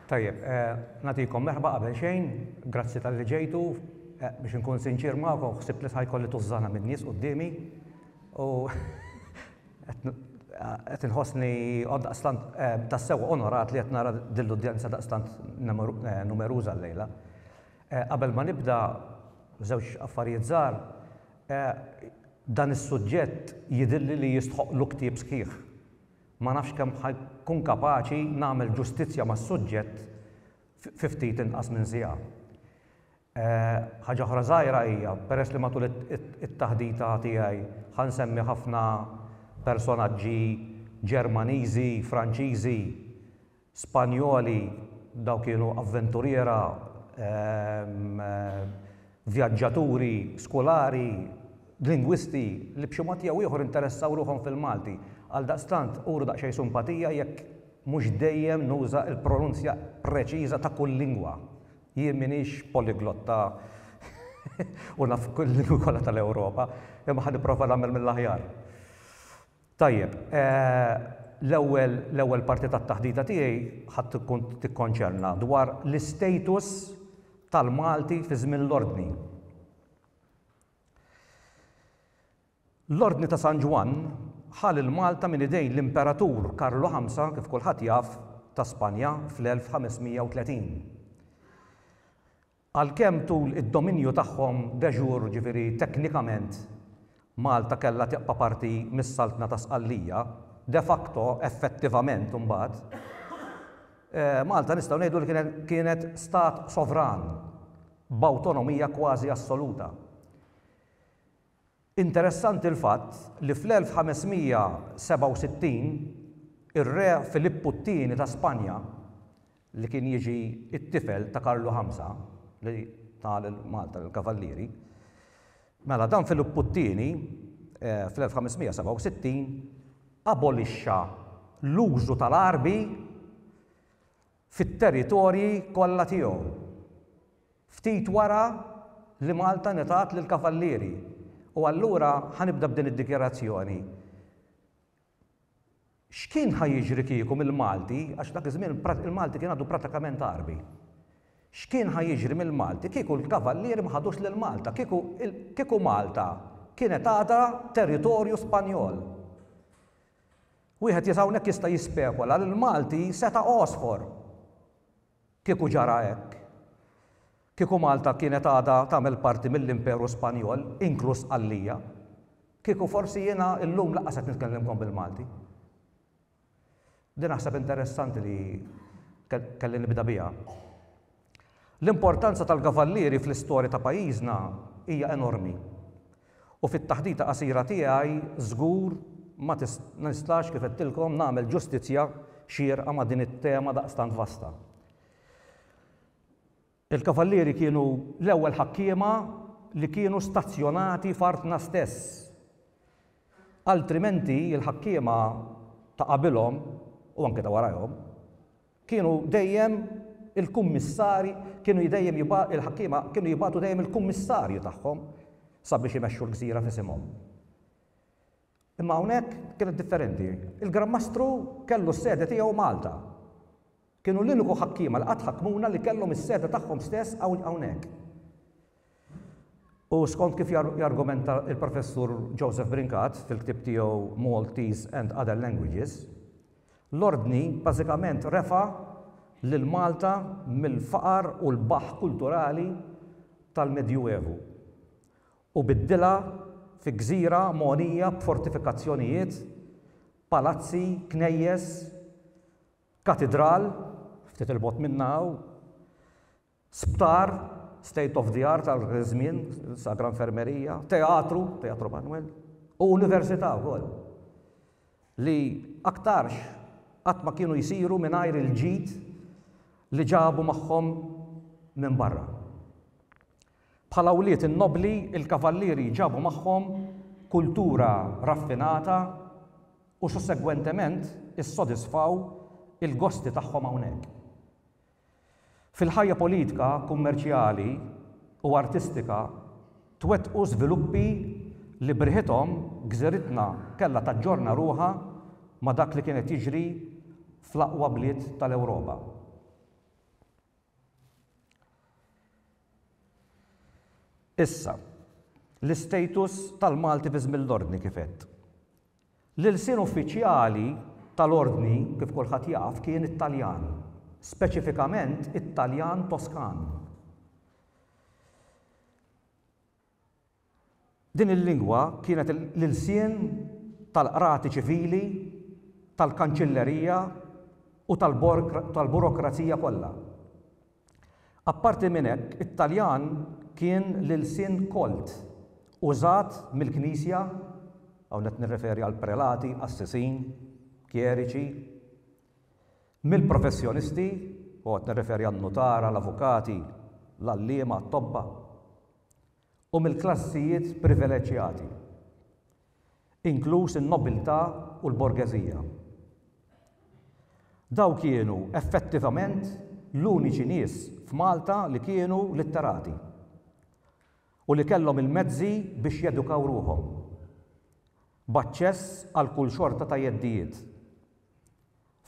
Tajjeb, eh, natikom merħba qabel xejn, grazzi tal-li ġejtu, eh, biex nkun sinċir ma'kom, xsib li ħajkolli tużżana minn nies qudiemi u qed inħossni daqstant eh, tassew onorat li qed nara dill-udjenza daqstant numeruża llejla. Qabel ma nibda, żewġ affarijiet żgħar, dan is-suġġett jidhirli li jistħoqqlu ktieb sħiħ. Ma nafx kemm ħa nkun kapaċi nagħmel ġustizzja mas-suġġett fi ftit inqas minn siegħa. Ħaġa oħra żgħira hija, peress li matul it-taħdita tiegħi ħa nsemmi ħafna personaġġi Ġermaniżi, Franċiżi, Spanjoli, dawn kienu avventuriera, vjaġġaturi, skolari, lingwisti li b'xi mod jew ieħor interessaw ruħhom fil-Malti. Għaldaqstant, uru daqsxejn simpatija jekk mhux dejjem nuża l-pronunzja preċiża ta' kull lingwa. Jien m'iniex poliglotta u naf il-lingwi kollha tal-Ewropa, imma ħa nipprova nagħmel mill-aħjar. Tajjeb, l-ewwel l-ewwel parti tat-taħdita tiegħi ħa tkun tikkonċerna dwar l-istatus tal-Malti fi żmien l-Ordni. L-Ordni ta' San Ġwann ħa lil Malta minn idejn l-Imperatur Karlu Ħamsa, kif kulħadd jaf, ta' Spanja fl-1530. Għalkemm tul id-dominju tagħhom de jure, jiġifieri teknikament, Malta kellha tibqa' parti mis-Saltna ta' Sqallija, de facto, effettivament imbagħad, Malta nistgħu ngħidu li kienet kienet stat sovran b'awtonomija kważi assoluta. Interessanti l-fatt li fl-1567, ir-Re Filippu t-Tieni ta' Spanja, li kien jiġi t-tifel ta' Karlu Ħamsa li ta lil Malta lill-Kavallieri, mela dan Filippu t-Tieni, fl-1567, abolixxa l-użu tal-għarbi, fit-territorji kollha tiegħu. Ftit wara li Malta ngħetat lill-Kavallieri. U allura ħa nibda b'din id-dikjarazzjoni. X'kien ħa jiġri kieku mill-Malti, għax dak iż-żmien il-Malti kien għadu pratikament Għarbi. X'kien ħa jiġri mill-Malti kieku l-Kavallieri ma ħadux lil Malta, kieku kieku Malta kienet għadha territorju Spanjol. Wieħed hawnhekk jista' jispekula li l-Malti seta' għosfor kieku ġara hekk. Kieku Malta kienet għadha tagħmel parti mill-Imperu Spanjol, inkluż Sqallija, kieku forsi jiena llum lanqas qed nitkellimkom bil-Malti. Din naħseb interessanti li kelli nibda biha. L-importanza tal-kavallieri fl-istorja ta' pajjiżna hija enormi u fit-taħdita qasira tiegħi żgur ma nistax, kif għedtilkom, nagħmel ġustizzja xierqa ma' din it-tema daqstant vasta. Il-kavallieri kienu l-ewwel ħakkiema li kienu stazzjonati f'artna stess. Altrimenti l-ħakkiema ta' qabilhom, u anke ta' warajhom, Kienu dejjem il-kummissarji, kienu dejjem jibgħa, il-ħakkiema kienu jibagħtu dejjem il-kummissarju tagħhom sabiex imexxu l-gżira f'isimhom. Imma hawnhekk kienet differenti. Il-Gran Mastru kellu s-sede tiegħu Malta. Kienu l-uniku ħakkiema li qatt ħakkmuna li kellhom is-sede tagħhom stess hawnhekk. U skont kif jargumenta l-Professur Joseph Brincat fil-ktieb tiegħu Maltese and Other Languages, l-Ordni bażikament refa' lil Malta mill-faqar u l-baħħ kulturali tal-Medjuevu u biddilha fi gżira mogħnija b'fortifikazzjonijiet, palazzi, knejjes, katidral, ftit 'il bogħod minnha hawn, Sptar, state of the art għal dak iż-żmien, sagra infermerija, teatru, Teatro Manuel, u università wkoll, li aktarx qatt ma kienu jsiru mingħajr il-ġid li ġabu magħhom minn barra. Bħala wlied in-nobbli, il-kavallieri ġabu magħhom kultura raffinata u sussegwentement issodisfaw il-gosti tagħhom hawnhekk. Fil-ħajja politika, kummerċjali u artistika twettqu żviluppi li b'riħithom gżiritna kellha taġġorna ruħha ma' dak li kien qed jiġri fl-aqwa bliet tal-Ewropa. Issa, l-istatus tal-Malti fi żmien l-Ordni kif għedt. L-ilsien uffiċjali tal-Ordni, kif kulħadd jaf, kien it-Taljan, speċifikament it-Taljan Toskan. Din il-lingwa kienet l-ilsien tal-qrati ċivili, tal-kanċillerija u tal-burokrazija kollha. Apparti minn hekk, it-Taljan kien l-ilsien kolt użat mill-Knisja, hawn qed nirreferi għall-prelati, qassisin, kjeriċi, mill-professjonisti, u hawn qed nirreferi għan-nutara, l-avukati, l-għalliema, t-tobba. u mill-klassijiet privileġġjati, inkluż in-nobiltà u l-borgeżija. Dawk kienu effettivament l-uniċi nies f'Malta li kienu litterati u li kellhom il-mezzi biex jedukaw ruħhom, b'aċċess għal kull xorta ta' jeddijiet.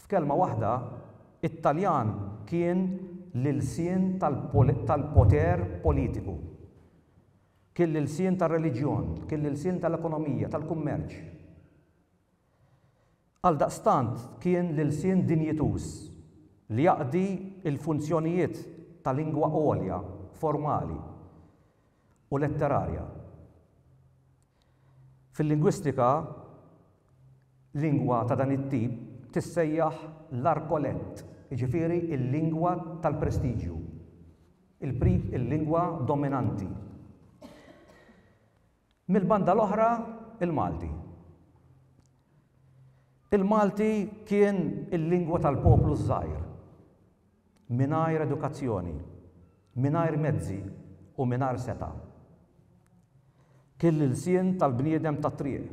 F'kelma waħda, it-Taljan kien l-ilsien tal-poter politiku. Kien l-ilsien tar-reliġjon, kien l-ilsien tal-ekonomija, tal-kummerċ. Għaldaqstant kien l-ilsien dinjituż li jaqdi l-funzjonijiet ta' lingwa għolja, formali u letterarja. Fil-lingwistika, lingwa ta' dan it-tip tissejjaħ l-arcolett, jiġifieri l-lingwa tal-prestiġju, il-lingwa dominanti. Mill-banda l-oħra, il-Malti. Il-Malti kien il-lingwa tal-poplu ż-żgħir. mingħajr edukazzjoni, mingħajr mezzi u mingħajr setgħa. Kien l-ilsien tal-bniedem tat-triq,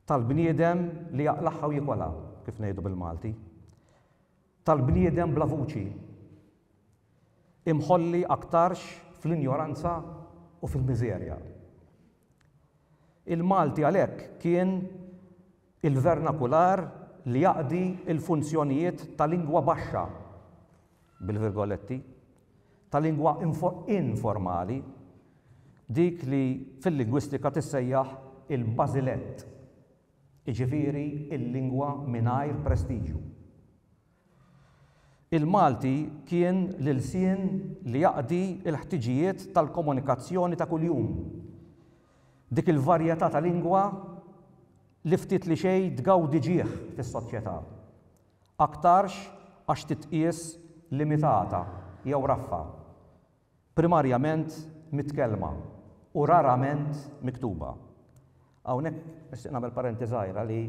tal-bniedem li jaqlagħha u jikolha, kif ngħidu bil-Malti, tal-bniedem bla vuċi, imħolli aktarx fl-injoranza u fil-miżerja. Il-Malti għalhekk kien Il-vernakular li jaqdi l-funzjonijiet ta' lingwa baxxa, bil-virgoletti, ta' lingwa informali, dik li fil-lingwistika tissejjaħ il-bażilett, jiġifieri l-lingwa mingħajr prestiġju. Il-Malti kien l-ilsien li jaqdi l-ħtiġijiet tal-komunikazzjoni ta' kuljum. Dik il-varjetà ta' lingwa li ftit li xejn tgawdi ġieħ fis-soċjetà, aktarx għax titqies limitata jew raffa, primarjament mitkellma u rarament miktuba. Hawnhekk nixtieq nagħmel parenti żgħira li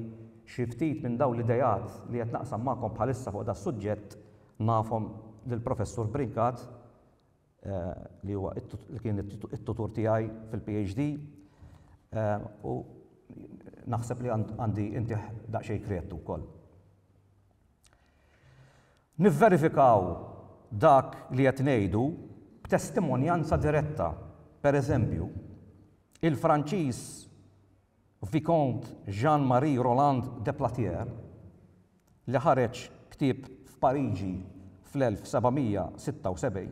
xi ftit minn dawn l-ideat li qed naqsam magħkom bħalissa fuq das-suġġett nafhom lill-Professur Brincat, li huwa li kien it-tutur tiegħi fil-PhD, u naħseb li għandi intih daqsxejn kreditu wkoll. Nivverifikaw dak li qed ngħidu b'testimonjanza diretta, pereżempju, il-Franċiż Vicomte Jean-Marie Roland de Platière, li ħareġ ktieb f'Pariġi fl-1776,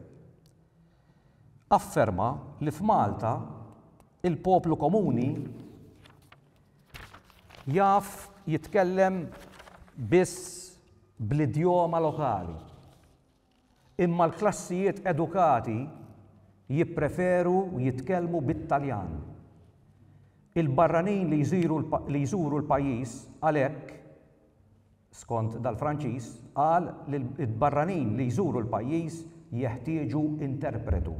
afferma li f'Malta il-poplu komuni, Jaf jitkellem biss bl-idjoma lokali, imma l-klassijiet edukati jippreferu jitkellmu bit-Taljan. Il-barranin li jżuru l-pajjiż għalhekk, skont dal-Franċiż, qal li l-barranin li jżuru l-pajjiż jeħtieġu interpretu.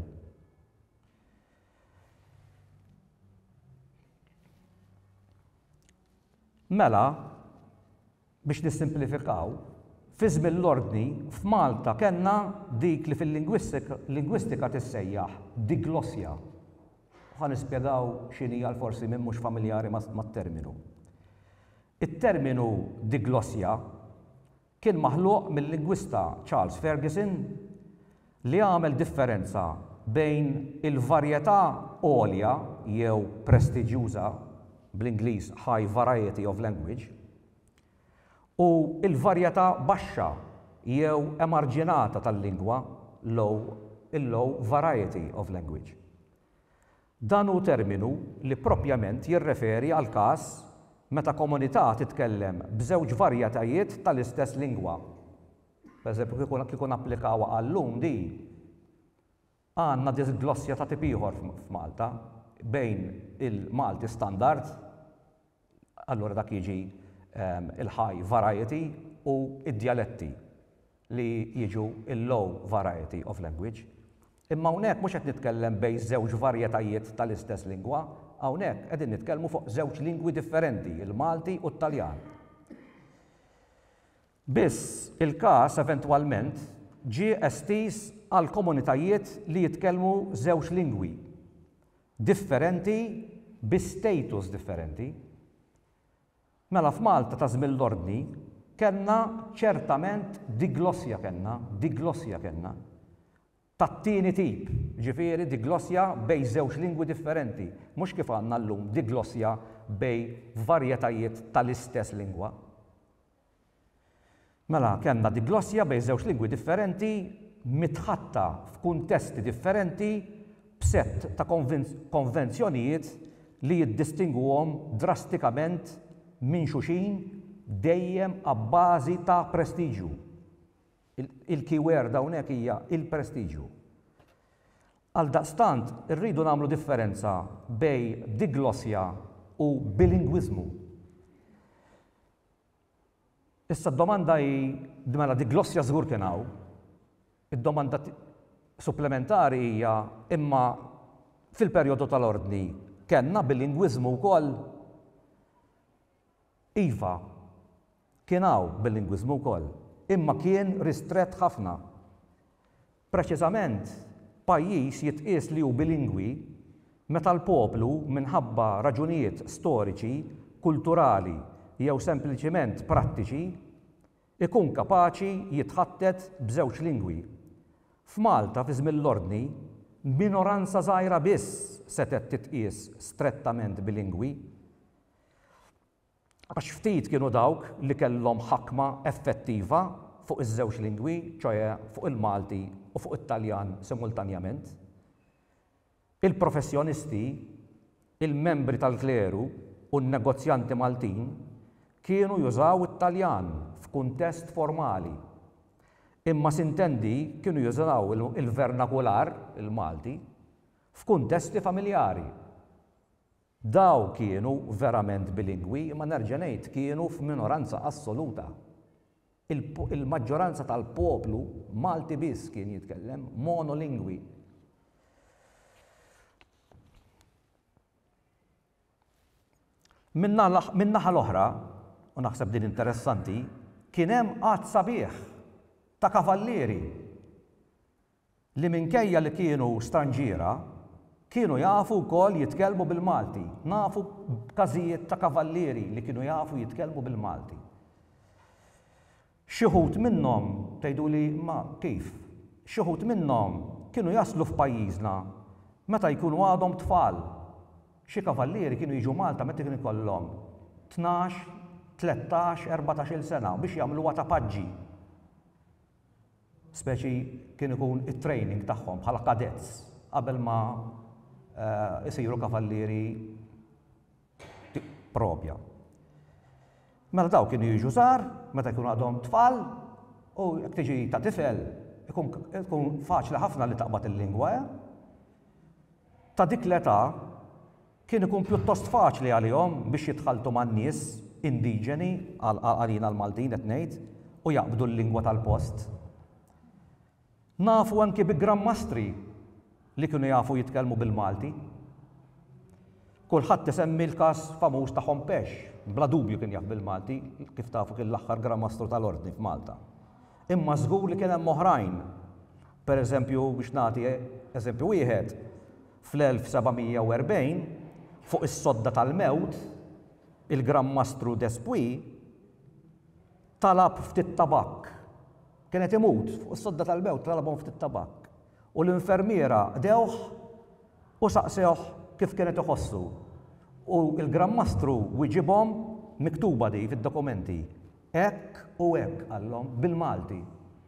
Mela, biex nissimplifikaw, fi żmien l-Ordni, f'Malta kellna dik li fil-lingwistika tissejjaħ diglossja. Ħa nispjegaw x'inhi għal forsi min mhux familjari mat-terminu. It-terminu diglossja Kien maħluq mil-lingwista Charles Ferguson li għamel differenza bejn il-varjetà għolja jew prestiġjuża, bl-Ingliż high variety of language, u l-varjetà baxxa jew emarġinata tal-lingwa, low, il-low variety of language. Dan hu terminu li proprjament jirreferi għall-każ meta komunità titkellem b'żewġ varjetajiet tal-istess lingwa. Pereżempju, kieku kieku napplikawha għal-lum din, għandna disglossja ta' tip ieħor f'Malta bejn il-Malti standard, Allura dak jiġi l-high variety u d-djaletti li jiġu l-low variety of language. Imma hawnhekk mhux qed nitkellem bejn żewġ varjetajiet tal-istess lingwa, hawnhekk qegħdin nitkellmu fuq żewġ lingwi differenti, il-Malti u t-Taljan. Biss, il-każ eventwalment ġie estiż għall-komunitajiet li jitkellmu żewġ lingwi. differenti bi status differenti. Mela f'Malta ta' żmien l-Ordni kellna ċertament diglossja kellna, diglossja kellna, tat-tieni tip, jiġifieri diglossja bejn żewġ lingwi differenti, mhux kif għandna llum diglossja bejn varjetajiet tal-istess lingwa. Mela, kellna diglossja bejn żewġ lingwi differenti, mitħatta f'kuntesti differenti b'sett ta' konvenzjonijiet li jiddistingwuhom drastikament minn xulxin dejjem abbażi ta' prestiġju. Il-keyword hawnhekk hija l-prestiġju. Għaldaqstant, irridu nagħmlu differenza bejn diglossja u bilingwiżmu. Issa d-domanda hi, mela diglossja żgur kien hawn. Id-domanda supplementari hija, imma fil-perjodu tal-Ordni kellna bilingwiżmu wkoll? Iva, kien hawn bilingwiżmu wkoll, imma kien ristrett ħafna. Preċiżament, pajjiż jitqies li hu bilingwi meta l-poplu, minħabba raġunijiet storiċi, kulturali jew sempliċiment prattiċi, ikun kapaċi jitħattet b'żewġ lingwi. F'Malta fi żmien l-Ordni, minoranza żgħira biss setgħet titqies strettament bilingwi. għax ftit kienu dawk li kellhom ħakma effettiva fuq iż-żewġ lingwi, ċoe fuq il-Malti u fuq it-Taljan simultanjament. Il-professjonisti, il-membri tal-kleru u n-negozjanti Maltin kienu jużaw it-Taljan f'kuntest formali, imma s'intendi kienu jużaw il-vernakular, il-Malti, f'kuntesti familjari. Dawn kienu verament bilingwi imma nerġa' ngħid kienu f'minoranza assoluta. Il-maġġoranza tal-poplu Malti biss kien jitkellem monolingwi. Min-naħa l-oħra, u naħseb din interessanti, kien hemm għadd sabiħ ta' kavallieri li minkejja li kienu stranġiera, kienu jafu wkoll jitkellmu bil-Malti. Nafu b'każijiet ta' kavallieri li kienu jafu jitkellmu bil-Malti. Xi wħud minnhom, tgħiduli, imma kif? Xi wħud minnhom kienu jaslu f'pajjiżna meta jkunu għadhom tfal. Xi kavallieri kienu jiġu Malta meta kienu jkollhom tnax, tlettax, erbatax-il sena biex jagħmluha ta' paġġi. speċi kien ikun it-training tagħhom bħala cadets qabel ma jsiru kavallieri propja. Mela daw kienu jiġu żgħar, meta jkunu għadhom tfal, u jekk tiġi ta' tifel, ikun faċli ħafna li taqbad il-lingwa, eh? Ta' dik l-età, Kien ikun pjuttost faċli għalihom biex jitħalltu man-nies indiġeni, għalina l-Maltin qed ngħid, u jaqbdu l-lingwa tal-post. Nafu anki bi Gran Mastri li kienu jafu jitkellmu bil-Malti. Kulħadd isemmi l-każ famuż ta' Hompesch, bla dubju kien jaf bil-Malti, kif tafu kien l-aħħar Gran Mastru tal-Ordni f'Malta. Imma żgur li kien hemm oħrajn. Pereżempju, biex nagħti eżempju wieħed, fl-1740, fuq is-sodda tal-mewt, il-Gran Mastru Despuy talab ftit tabakk. Kien qed imut, fuq is-sodda tal-mewt talabhom ftit tabakk, u l-infermiera qdewh u saqsewh kif kien qed iħossu. U l-Gran Mastru wiġibhom, miktuba di fid-dokumenti, Hekk u hekk, qallhom, bil-Malti.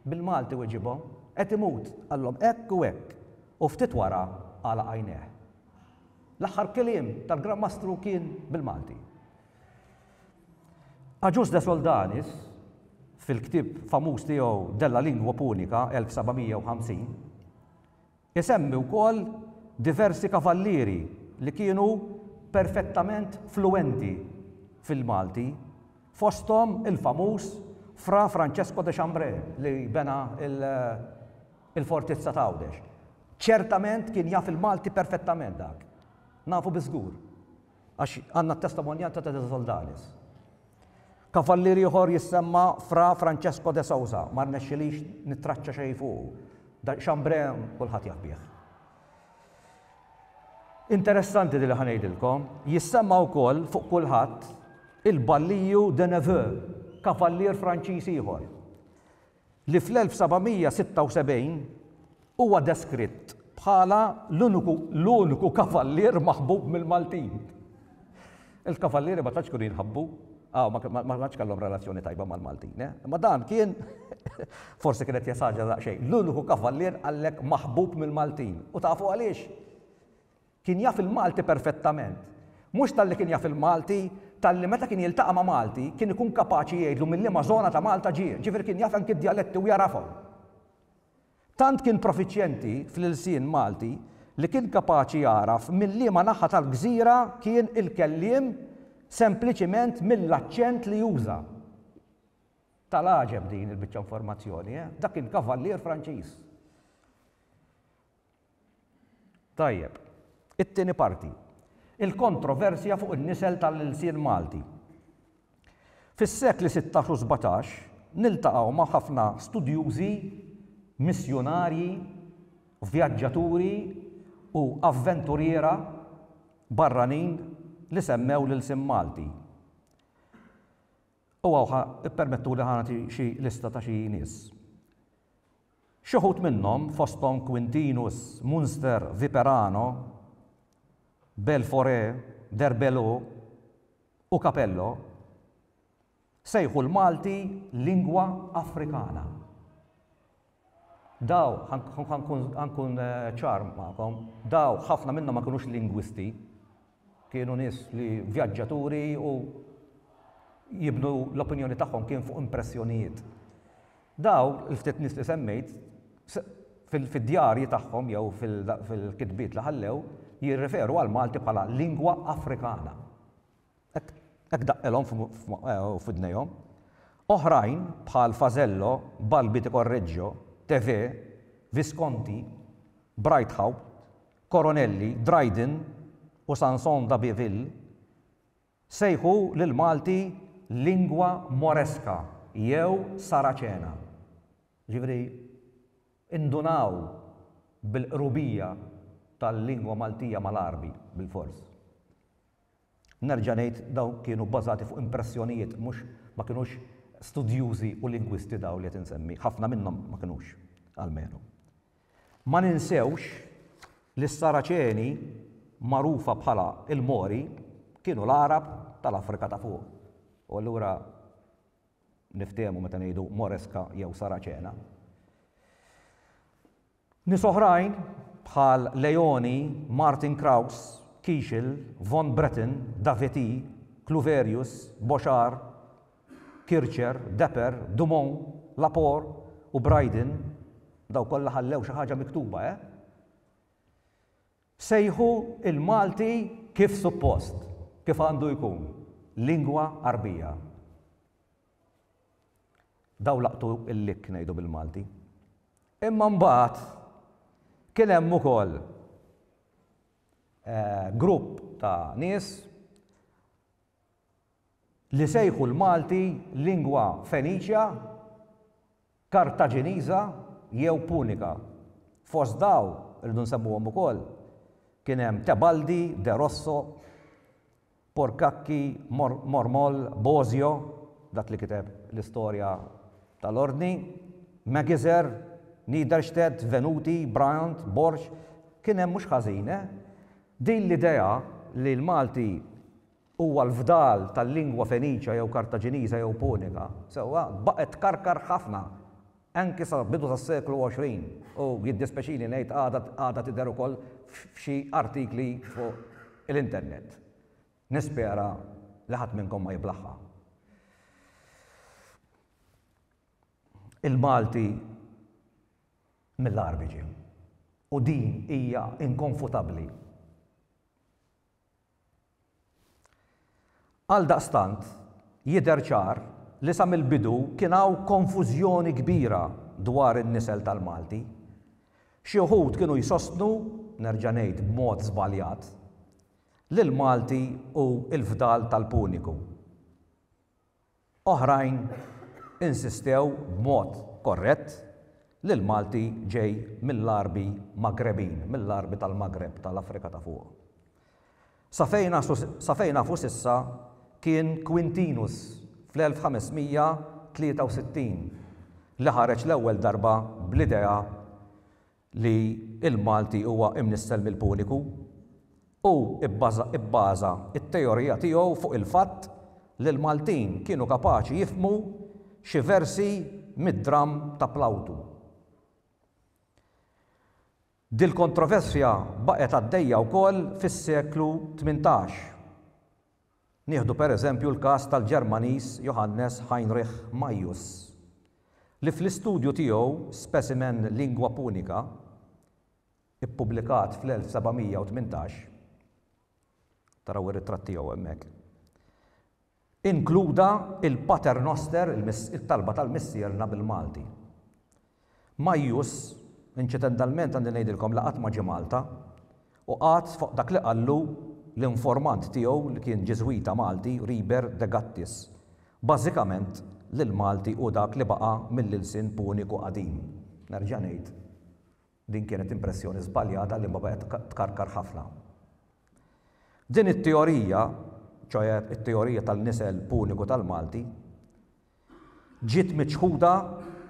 Bil-Malti weġibhom. Qed imut, qallhom, hekk u hekk. U ftit wara għalaq għajnejh. L-aħħar kliem tal-Gran Mastru kien bil-Malti. Agius de Soldanis, fil-ktieb famuż tiegħu Della Lingua Punica, 1750, Isemmi wkoll diversi kavallieri li kienu perfettament fluwenti fil-Malti, fosthom il-famuż Fra Francesco de Chambré li bena l-fortizza ta' Għawdex. Ċertament kien jaf il-Malti perfettament dak. Nafu biż-żgur. Għax għandna t-testimonjanza ta' De Soldanis. Kavallier ieħor jissemma Fra Francesco de Sousa, ma rnexxilix nittraċċa xejn fuqu. Xambre kulħadd jaf bih. Interessanti li ħanejdilkom, jissemma wkoll fuq kulħadd il-Balliju de Neveu, kavallier Franċiż ieħor. li fl-1776 huwa deskritt bħala l-uniku kavallier maħbub mill-Maltin. Il-kavallieri ma tantx kienu jinħabbu, ah, ma tantx kellhom relazzjoni tajba mal-Maltin, eh? imma dan kien forsi kienet jesaġa daqsxejn, l-uniku kavallier għallek maħbub mill-Maltin. U tafu għaliex? Kien jaf il-Malti perfettament. Mhux talli kien jaf il-Malti, talli meta kien jiltaqa' ma' Malti, kien ikun kapaċi jgħidlu minn liema żona ta' Malta ġie, ġifieri kien jaf anki d-djaletti u jagħrafhom. Tant kien profiċjenti fl-ilsien Malti li kien kapaċi jagħraf minn liema naħa tal-gżira kien il-kelliem sempliċiment mill-aċċent li juża. Tal-għaġeb din il-biċċa informazzjoni, eh? Dak kien kavallier Franċiż. Tajjeb. It-tieni parti. Il-kontroversja fuq in-nisel tal-ilsien Malti. Fis-sekli sittax u sbatax niltaqgħu ma' ħafna studjużi, missjunarji, vjaġġaturi u avventuriera barranin li semmew l-ilsien Malti. U hawn ħa ippermettuli ħa nagħti xi lista ta' xi nies. Xi wħud minnhom, fosthom Quintinus, Munster, Viperano, Belforé, Derbello u Capello, sejħu l-Malti lingwa Afrikana. Daw, ħa nkun ċar magħkom, daw ħafna minnhom ma kinux lingwisti. Kienu nies li vjaġġaturi u jibnu l-opinjoni tagħhom kien fuq impressjonijiet. Dawn il-ftit nies li semmejt fid-djarji tagħhom jew fil-kitbiet li ħallew jirreferu għall-Malti bħala lingua africana. Hekk daqqilhom f'widnejhom. Oħrajn bħal Fazello, Balbi di Correggio, Tevez, Visconti, Breithaupt, Coronelli, Dryden u Sanson d'Abbeville sejħu lill-Malti lingua moresca jew Saraċena. Jiġifieri indunaw bil-qrubija tal-lingwa Maltija mal-Għarbi bilfors. Nerġa' ngħid dawn kienu bbażati fuq impressjonijiet mhux ma kinux studjużi u lingwisti dawn li qed insemmi, ħafna minnhom ma kinux almenu. Ma ninsewx li s-Saraċeni magħrufa bħala l-Mori kienu l-Għarab tal-Afrika ta' fuq u allura niftehmu meta ngħidu Moreska jew Saraċena. Nies oħrajn, bħal Leoni, Martin Kraus, Kischl, von Breten, Davetti, Cluverius, Bochar, Kircher, Deper, Dumont, Laporte u Brydon, dawn kollha ħallew xi ħaġa miktuba, eh? sejħu l-Malti kif suppost, kif għandu jkun, lingwa Għarbija. Dawn laqtu l-likk ngħidu bil-Malti. Imma mbagħad kien hemm ukoll grupp ta' nies li sejħu l-Malti lingwa Feniċja Kartaġiniża jew Punika. Fost dawn, irridu nsemmuhom ukoll, kien hemm Tebaldi, De Rosso, Porcacci, Mormol, Bosio, dak li kiteb l-istorja tal-Ordni, Magizer, Niederstedt, Venuti, Bryant, Borg, kien hemm mhux ħażin, eh? Din l-idea li l-Malti Huwa l-fdal tal-lingwa Feniċja jew Kartaġiniża jew Punika, sewwa, baqgħet tkarkar ħafna anki sa bidu tas-seklu 20 u jiddispjaċini ngħid għadha għadha tidher ukoll f'xi artikli fuq l-internet. Nispera li ħadd minnkom ma jiblaħħa. Il-Malti mill-agħar biġi u din hija inkonfutabbli. Għaldaqstant, jidher ċar li sa mill-bidu kien hawn konfużjoni kbira dwar in-nisel tal-Malti. Xi wħud kienu jsostnu, nerġa' ngħid b'mod żbaljat, li l-Malti hu l-fdal tal-Puniku. Oħrajn insistew b'mod korrett li l-Malti ġej mill-Għarbi Magrebin, mill-Għarbi tal-Magreb, tal-Afrika ta' Fuq. Sa fejn sa fejn nafu s'issa kien Quintinus fl-1563 li ħareġ l-ewwel darba bl-idea li l-Malti huwa imnissel mill-Puniku, hu bbaża t-teorija tiegħu fuq il-fatt li l-Maltin kienu kapaċi jifhmu xi versi mid-dramm ta' Plawtu. Dil-kontroversja baqgħet għaddejja wkoll fis-seklu tmintax. Nieħdu per eżempju l-każ tal-Ġermaniż Johannes Heinrich Maius, li fl-istudju tiegħu Specimen Lingua Punica, ippubblikat fl-1718, taraw ir-ritratt tiegħu hemmhekk, inkluda il-Pater Noster, il-Talba tal-Missierna bil-Malti. Majjus, inċidentallment għandi ngħidilkom li qatt ma ġie Malta, u qagħad fuq dak li qallu l-informant tiegħu li kien Ġiżwita Malti Riber de Gattis, bażikament li l-Malti hu dak li baqa' mill-ilsien Puniku qadim. Nerġa' ngħid, din kienet impressjoni żbaljata li ma baqgħet tkarkar ħafna. Din it-teorija, ċoe it-teorija tal-nisel Puniku tal-Malti, ġiet miċħuda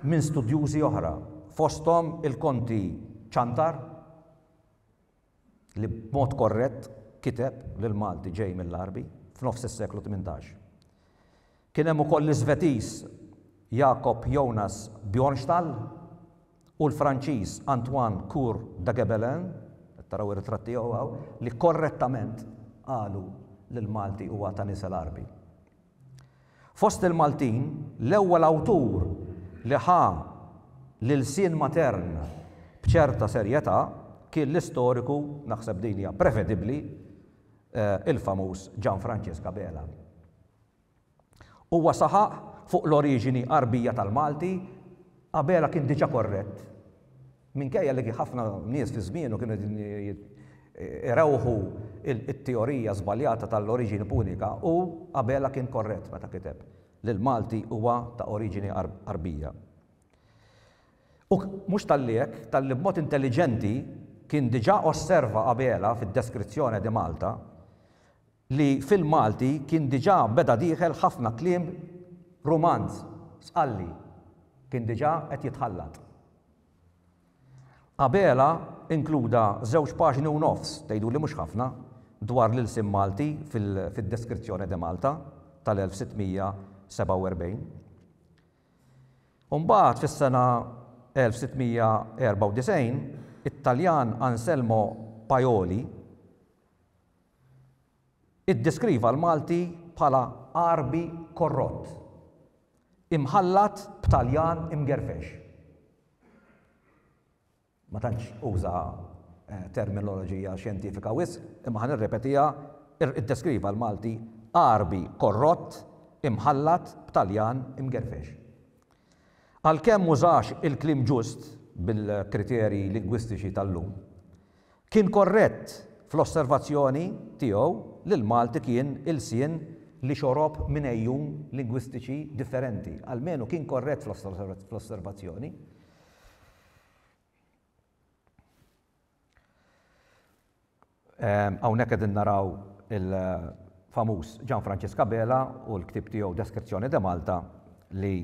minn studjużi oħra, fosthom il-Konti Ciantar, li b'mod korrett kiteb li l-Malti ġej mill-Għarbi f'nofs is-seklu tmintax. Kien hemm ukoll l-Iżvetiż Jakob Jonas Bjornstall u l-Franċiż Antoine Cour Dagebelin, qed taraw ir-ritratt tiegħu hawn, li korrettament qalu li l-Malti huwa ta' nies il-Għarbi. Fost il-Maltin, l-ewwel awtur li ħa l-ilsien matern b'ċerta serjetà kien l-istoriku, naħseb din hija prevedibbli, il-famuż Gian Francesc Abela. Huwa saħaq fuq l-oriġini Għarbija tal-Malti, Abela kien diġà korrett. Minkejja li ħafna nies fi żmienu kienu qegħdin irawħu t-teorija żbaljata tal-oriġini punika, hu, Abela, kien korrett meta kiteb li l-Malti huwa ta' oriġini Għarbija. U mhux talli hekk, talli b'mod intelliġenti kien diġà osserva Abela fid-Descrizione de Malta li fil-Malti kien diġà beda dieħel ħafna kliem Rumanz, sqalli, kien diġà qed jitħallat. Abela inkluda żewġ paġni u nofs, tgħidu li mhux ħafna, dwar l-ilsien Malti fil-Descrizione de Malta tal-1647. Imbagħad fis-sena 1694, it-Taljan Anselmo Paioli Iddeskriva l-Malti bħala Għarbi korrott, imħallat b'Taljan imgerfex. Ma tantx uża terminoloġija xjentifika wisq, imma ħa nirrepetiha, iddeskriva l-Malti Għarbi korrott, imħallat b'Taljan imgerfex. Għalkemm m'użax il-kliem ġust bil-kriterji lingwistiċi tal-lum, Kien korrett fl-osservazzjoni tiegħu li l-Malti kien ilsien li xorob minn għejun lingwistiċi differenti. Almenu kien korrett fl-osservazzjoni. Ehm, hawnhekk qegħdin naraw il-famuż Gian Francisca Bela u l-ktib tiegħu Deskrizzjoni de Malta li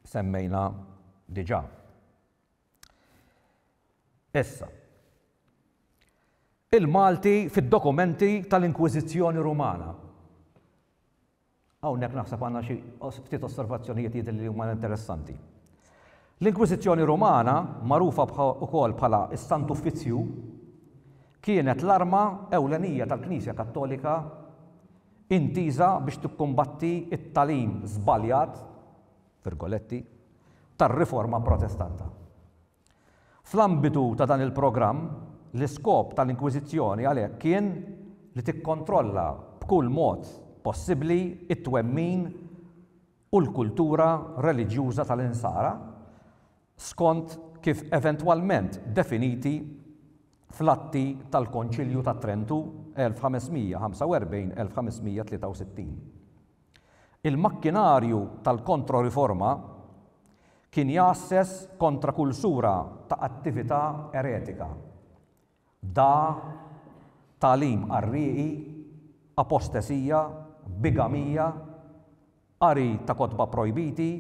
semmejna diġà. Issa, il-Malti fid-dokumenti tal-Inkwiżizzjoni Rumana. Hawnhekk naħseb għandna xi ftit osservazzjonijiet jidhirli li huma interessanti. L-Inkwiżizzjoni Rumana, magħrufa wkoll bħala s-Sant Uffizzju, kienet l-arma ewlenija tal-Knisja Kattolika intiża biex tikkumbatti t-tagħlim żbaljat f'Virgoletti, tar-Riforma Protestanta. Fl-ambitu ta' dan il-programm, l-iskop tal-Inkwiżizzjoni għalhekk kien li tikkontrolla b'kull mod possibbli t-twemmin u l-kultura reliġjuża tal-Insara skont kif eventwalment definiti fl-atti tal-Konċilju ta' Trentu 1545-1563. Il-makkinarju tal-Kontroriforma kien jgħasses kontra kull sura ta' attività eretika, dagħa, tagħlim qarrieqi, apostesija, bigamija, qari ta' kotba pprojbiti,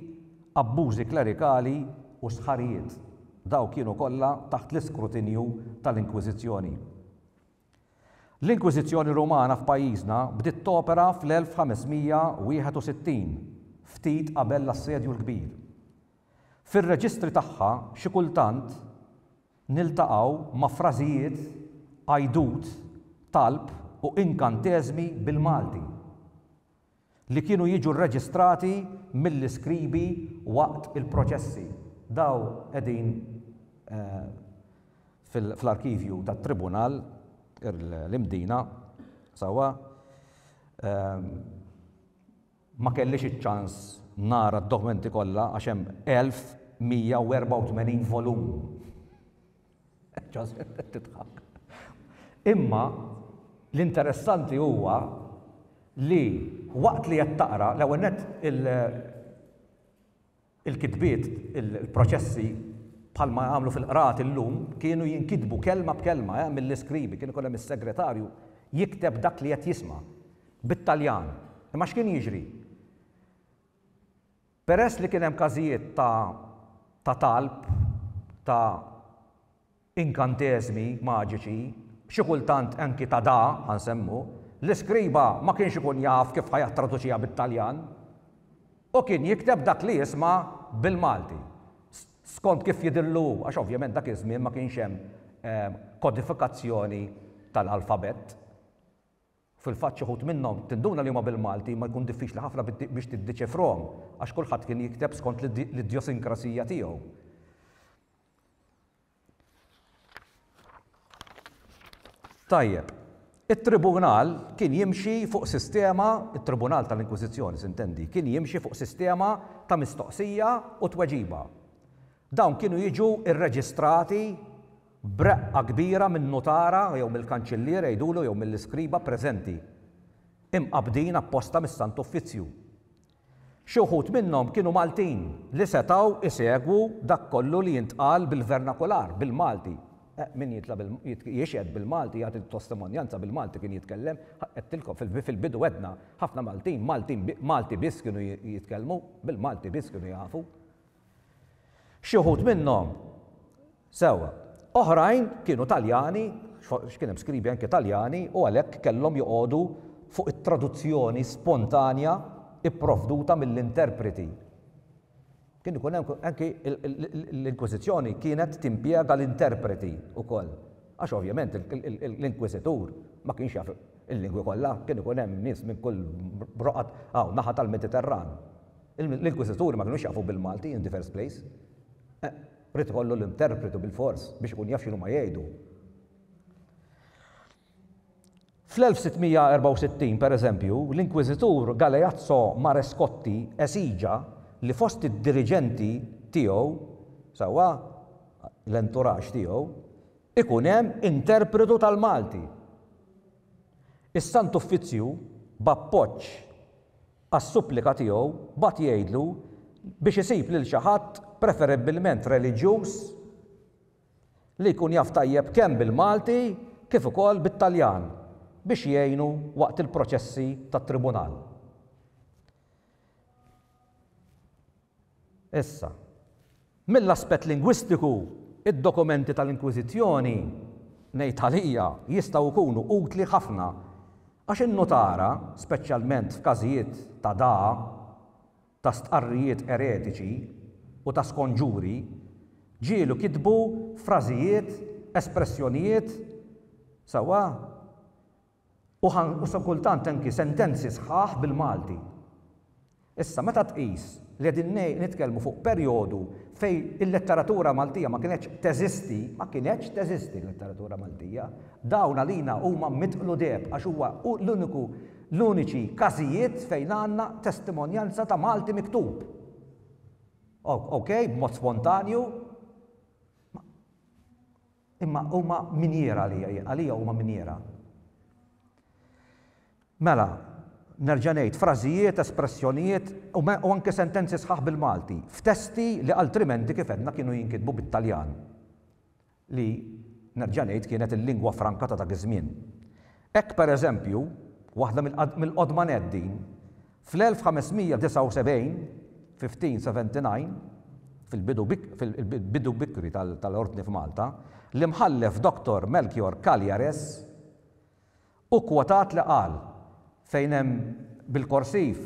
abbużi klerikali u stħarrijiet. Dawk kienu kollha taħt l-iskrutinju tal-Inkwiżizzjoni. L-Inkwiżizzjoni Rumana f'pajjiżna bdiet topera fl-1561, ftit qabel l-Assedju l-Kbir. Fir-reġistri tagħha xi kultant niltaqgħu ma' frażijiet, għajdut, talb u inkanteżmi bil-Malti. li kienu jiġu rreġistrati mill-iskribi waqt il-proċessi. Dawn qegħdin fl-arkivju tat-Tribunal, l-Imdina, sewwa. Ma kellix iċ-ċans nara d-dokumenti kollha għax hemm 1,184 volum. Joseph qed tidħak. Imma l-interessanti huwa li waqt li qed taqra l-ewwel net il-kitbiet, il-proċessi bħalma jagħmlu fil-qrat illum kienu jinkitbu kelma b'kelma eh, mill-iskribi, kien ikun hemm is-segretarju jikteb dak li qed jisma' bit-Taljan. Imma x'kien jiġri? Peress li kien hemm każijiet ta' ta' talb ta' inkanteżmi maġiċi, xi kultant anki ta' da, ħa nsemmu, l-iskriba ma kienx ikun jaf kif ħa jattraduċiha bit-Taljan u kien jikteb dak li jisma' bil-Malti, skont kif jidhirlu hu, għax ovvjament dak iż-żmien ma kienx hemm kodifikazzjoni tal-alfabett. Fil-fatt xi wħud minnhom tinduna li huma bil-Malti imma jkun diffiċli ħafna biex tiddiċifrhom għax kulħadd kien jikteb skont l-idjosinkrasija tiegħu. Tajjeb, it-Tribunal kien jimxi fuq sistema, it-Tribunal tal-Inkwiżizzjoni s'intendi, kien jimxi fuq sistema ta' mistoqsija u tweġiba. Dawn kienu jiġu rreġistrati b'reqqa kbira min-nutara jew mill-kanċillier għidulu jew mill-iskriba preżenti, imqabbdin apposta mis-Sant Uffizzju. Xi wħud minnhom kienu Maltin li setgħu jsegwu dak kollu li jintqal bil-vernakular, bil-Malti. Min jitla' bil, jixhed bil-Malti, jagħti testimonjanza bil-Malti kien jitkellem. Għedtilkom, fil-bidu għedna, ħafna Maltin, Maltin, Malti biss kienu jitkellmu, bil-Malti biss kienu jafu. Xi wħud minnhom, sewwa. Oħrajn kienu Taljani, għax kien hemm skribi anke Taljani, u għalhekk kellhom joqogħdu fuq it-traduzzjoni spontanja pprovduta mill-interpreti. Kien ikun hemm anke l-Inkwiżizzjoni kienet timpjega l-interpreti wkoll, għax ovvjament l-Inkwiżitur ma kienx jaf il-lingwi kollha, kien ikun hemm nies minn kull roqgħat, hawn naħa tal-Mediterran. L-inkwiżituri ma kinux jafu bil-Malti in the first place. Eh, ried ikollu l-interpretu bilfors biex ikun jaf x'inhuma jgħidu. Fl-1664, pereżempju, l-inkwiżitur Galeazzo Marescotti esiġa li fost id-diriġenti tiegħu, sewwa l-enturaġġ tiegħu, ikun hemm interpretu tal-Malti. Is-Sant Uffizzju, b'appoġġ Għas-supplika tiegħu, bagħat jgħidlu biex isib lil xi ħadd preferibbilment reliġjuż li jkun jaf tajjeb kemm bil-Malti kif ukoll bit-Taljan biex jgħinu waqt il-proċessi tat-Tribunal. Issa, mill-aspett lingwistiku, id-dokumenti tal-Inkwiżizzjoni, ngħid għalija, jistgħu jkunu utli ħafna, għax in-nutara, speċjalment f'każijiet ta' dagħa, ta' stqarrijiet eretiċi u ta' skonġuri, ġielu kitbu frażijiet, espressjonijiet, sewwa? U ħa u sa kultant anki sentenzi sħaħ bil-Malti. Issa, meta tqis li qegħdin ngħi nitkellmu fuq perjodu fejn il-letteratura Maltija ma kinetx teżisti, ma kinetx teżisti l-letteratura Maltija, dawn għalina huma midqlu deheb għax huwa hu l-uniku l-uniċi każijiet fejn għandna testimonjanza ta' Malti miktub. O, okej, b'mod spontanju, Imma huma minjiera għalija jien, għalija huma minjiera. Mela, nerġa' ngħid, frażijiet, espressjonijiet u u anke sentenzi sħaħ bil-Malti, f'testi li altrimenti kif għedna kienu jinkitbu bit-Taljan, li, nerġa' ngħid, kienet il-lingwa franka ta' dak iż-żmien. Hekk, pereżempju, waħda mill-qodma nett din, fl-1579, 1579, fil-bidu bikri tal-Ordni f'Malta, l-Imħallef Doctor Melchior Cagliares, hu kwotat li qal, fejn hemm bil-korsiv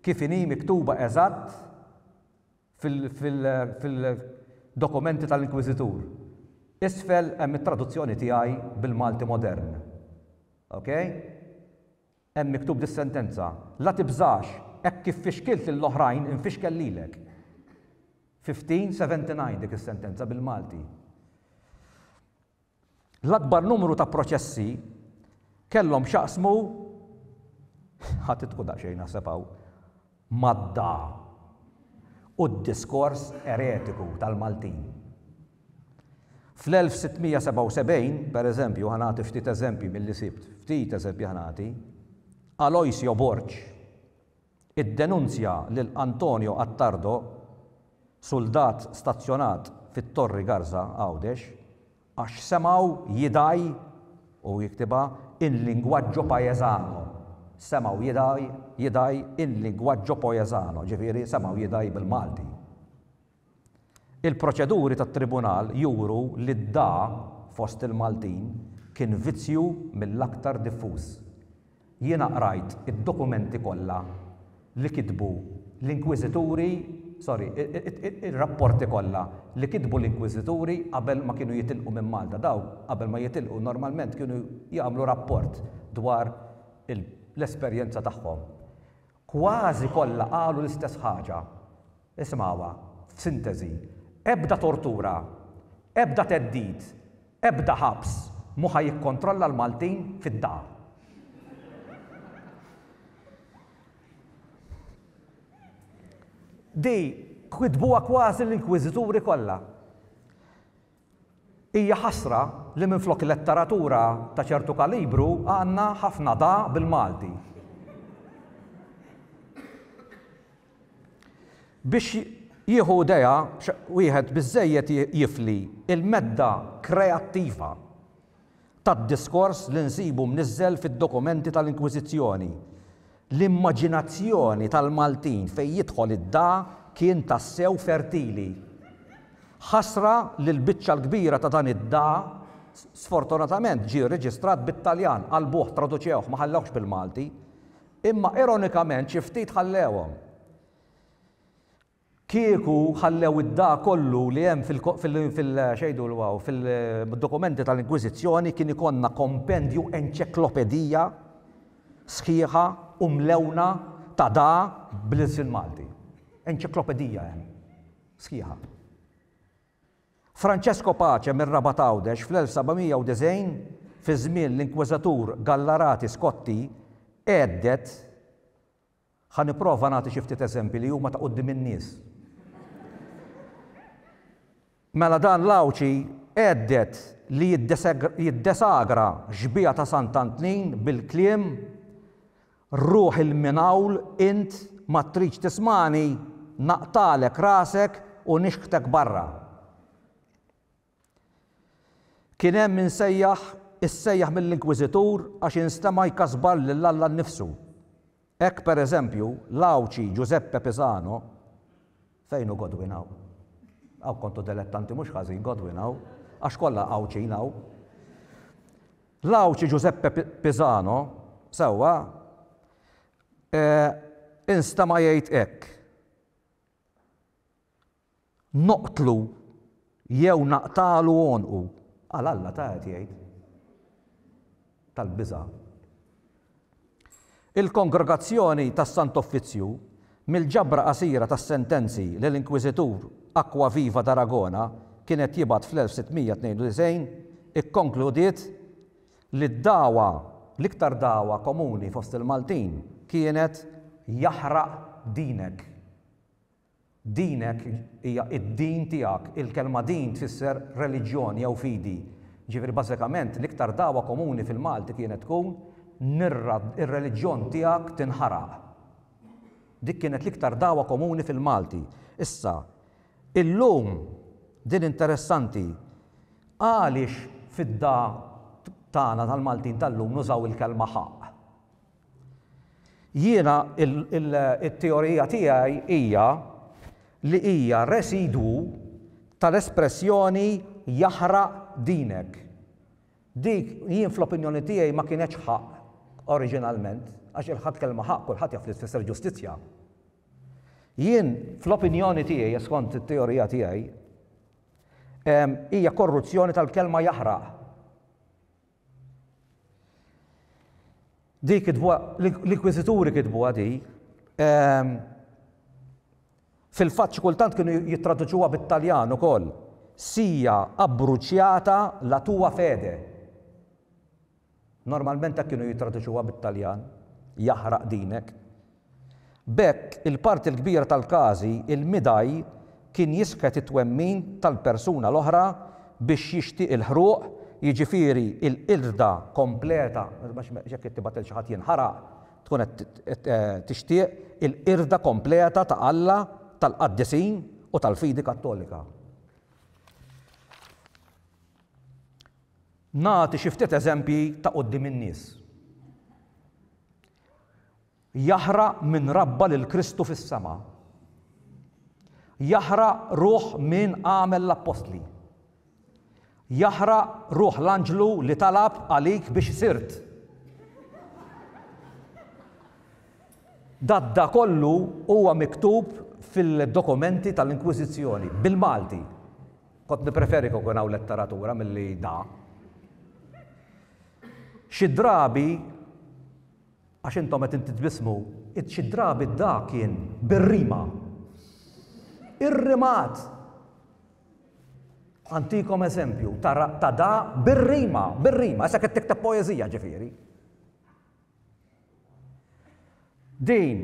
kif inhi miktuba eżatt fil-dokumenti tal-Inkwiżitur. Isfel hemm it-traduzzjoni tiegħi bil-Malti modern. Ok? Hemm miktub dis-sentenza, La tibżax, hekk kif fixkilt lill-oħrajn infixkel lilek. 1579 dik is-sentenza bil-Malti. L-akbar numru ta' proċessi kellhom x'jaqsmu ħa titqu daqsxejn naħseb hawn mad-da u d-diskors eretiku tal-Maltin. Fl-1677, pereżempju, ħa nagħti ftit eżempji milli sibt, ftit eżempji ħa nagħti, Aloisio Borg, iddenunzja lil Antonio Attardo, suldat stazzjonat fit-Torri Garza, Għawdex, għax semgħu jidgħi, u jiktibha in linguaggio paesano, semgħu jidgħi, jidgħi in linguaggio poesano, ġifieri semgħu jidgħi bil-Malti. Il-proċeduri tat-Tribunal juru li d-dà fost il-Maltin kien vizzju mill-aktar diffuż. Jiena qrajt id-dokumenti kollha li kitbu l-Inkwiżituri, sorry, ir-rapporti kollha li kitbu l-Inkwiżituri qabel ma kienu jitilqu minn Malta. Dawk qabel ma jitilqu normalment kienu jagħmlu rapport dwar l-esperjenza tagħhom. Kważi kollha qalu l-istess ħaġa. Isimgħuha, f'sinteżi, ebda tortura, ebda theddid, ebda ħabs mhu ħa jikkontrolla l-Maltin fid-dar. Di kitbuha kważi l-inkwiżituri kollha. Hija ħasra li minflok letteratura ta' ċertu kalibru għandna ħafna da bil-Malti. Biex jieħu idea wieħed biżżejjed jifli il-medda kreattiva. tad-diskors li nsibu mniżżel fid-dokumenti tal-Inkwiżizzjoni. L-immaġinazzjoni tal-Maltin fejn jidħol id-da kien tassew fertili. Ħasra li l-biċċa l-kbira ta' dan id-da sfortunatament ġie reġistrat bit-Taljan, qalbuh, traduċewh, ma ħallewhx bil-Malti. Imma ironikament xi ftit ħallewhom. Kieku ħallew id-da kollu li hemm fil-dokumenti tal-Inkwiżizzjoni kien ikollna kompendju enċeklopedija sħiħa u mlewna ta' da bl-ilsien Malti. Enċeklopedija hemm sħiħa. Francesco Pace mir-Rabat Għawdex fl-1790 fi żmien l-Inkwiżatur Gallarati Scotti għedded, Ħa nipprova nagħti xi ftit eżempji li huma ta' quddiem in-nies. Mela dan l-Għawdxi għedded li jiddesagra xbieha ta' Sant Antnin bil-kliem, Ruħ 'il minn hawl int ma tridx tismagħni naqtagħlek rasek u nixħtek barra. Kien hemm min sejjaħ, issejjaħ mill-Inkwiżitur għax instema' jkasbar lil Alla nnifsu. Hekk, per eżempju, l-Għawdxi Ġużeppe Pisano, fejn hu Godwin hawn? Hawn kontu delettanti mhux ħażin Godwin hawn, għax kollha Għawdxin hawn. L-Għawdxi Ġużeppe Pisano, sewwa, eh, instema' jgħid hekk. Noqtlu jew naqtagħlu għonqu. Għal Alla ta' qed jgħid. Tal-biża'. Il-Kongregazzjoni tas-Sant'Offizzju, mill-ġabra qasira tas-sentenzi li l-Inkwiżitur Acquaviva d'Aragona kien qed jibgħat fl-1692, ikkonkludiet li d-dagħwa, l-iktar dagħwa komuni fost il-Maltin, kienet, Jaħraq dinek. Dinek hija d-din tiegħek. Il-kelma din tfisser reliġjon jew fidi. Jiġifieri bażikament l-iktar dagħwa komuni fil-Malti kienet tkun nirra r-reliġjon tiegħek tinħaraq. Dik kienet l-iktar dagħwa komuni fil-Malti. Issa, illum, din interessanti, għaliex fid-dagħa tagħna tal-Maltin tal-lum nużaw il-kelma ħaqq? Jiena t-teorija tiegħi hija li hija residwu tal-espressjoni jaħraq dinek. Dik jien fl-opinjoni tiegħi ma kienetx ħaqq oriġinalment għax il-ħadd kelma ħaqq kulħadd jaf li tfisser ġustizzja. Jien fl-opinjoni tiegħi e skont it-teorija tiegħi hija korruzzjoni tal-kelma jaħraq. Di kitbuha, l-inkwiżituri kitbuha di, ehm, fil-fatt xi kultant kienu jittraduċuha bit-Taljan ukoll. Sija abbruċjata la tua fede. Normalment hekk kienu jittraduċuha bit-Taljan, jaħraq dinek. B'hekk, il-parti l-kbira tal-każi, il-midai kien jisħet it-twemmin tal-persuna l-oħra biex jixtieq il-ħruq, jiġifieri l-qirda kompleta, għax jekk qed tibgħat lil xi ħadd jinħaraq, tkun qed tixtieq il-qirda kompleta ta' Alla, tal-qaddisin u tal-fidi Kattolika. Nagħti xi ftit eżempji ta' quddiem in-nies. Jaħraq min rabba lil Kristu fis-sema. Jaħraq ruħ min għamel l-appostli. Jaħraq ruħ l-anġlu li talab għalik biex sirt. Dadda kollu huwa miktub fil-dokumenti tal-Inkwiżizzjoni, bil-Malti. Kont nipreferi kukun hawn letteratura milli da. Xi drabi Għax intom qed inti tbissmu. Id xi drabi d-da kien bir-rima. Ir-rimat! Għantikom eżempju ta' ra, ta' da bir-rima, bir-rima, issa qed tikteb poeżija ġifieri. Din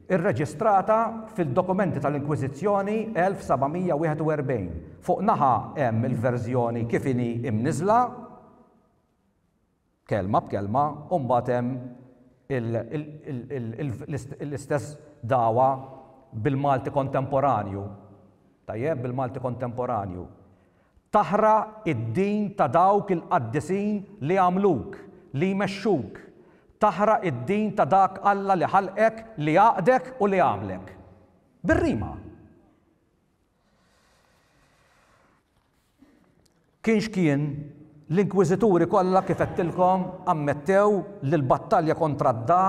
irreġistrata fil-dokumenti tal-Inkwiżizzjoni 1741. Fuq naħa hemm il-verżjoni kif inhi imniżżla, kelma b'kelma u mbagħad hemm l-istess dagħwa bil-Malti kontemporanju, tajjeb, bil-Malti kontemporanju, Taħraq id-din ta' dawk il-qaddisin li għamluk, li jmexxuk, taħraq id-din ta' dak Alla li ħalqek, li għaqdek u li għamlek. Bir-rima! Kien x'kien, l-inkwiżituri kollha kif għedtilkom ammettew li l-battalja kontra d-Da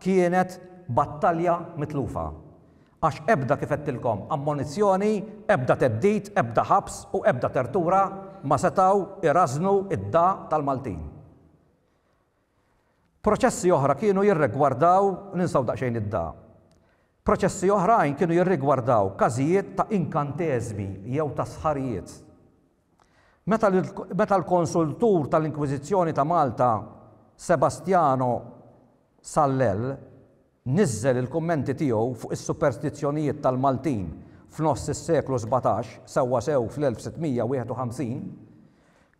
kienet battalja mitlufa. Għax ebda, kif għedtilkom, ammonizzjoni, ebda theddid, ebda ħabs u ebda tertura ma setgħu jrażżnu d-Da tal-Maltin. Proċessi oħra kienu jirregwardaw, ninsaw daqsxejn id-da. Proċessi oħrajn kienu jirrigwardaw każijiet ta' inkanteżmi jew ta' sħarijiet. Meta l, meta l-konsultur tal-Inkwiżizzjoni ta' Malta Sebastiano Sallell Niżżel il-kummenti tiegħu fuq is-superstizzjonijiet tal-Maltin f'nofs is-seklu sbatax, sewwasew fl-1651,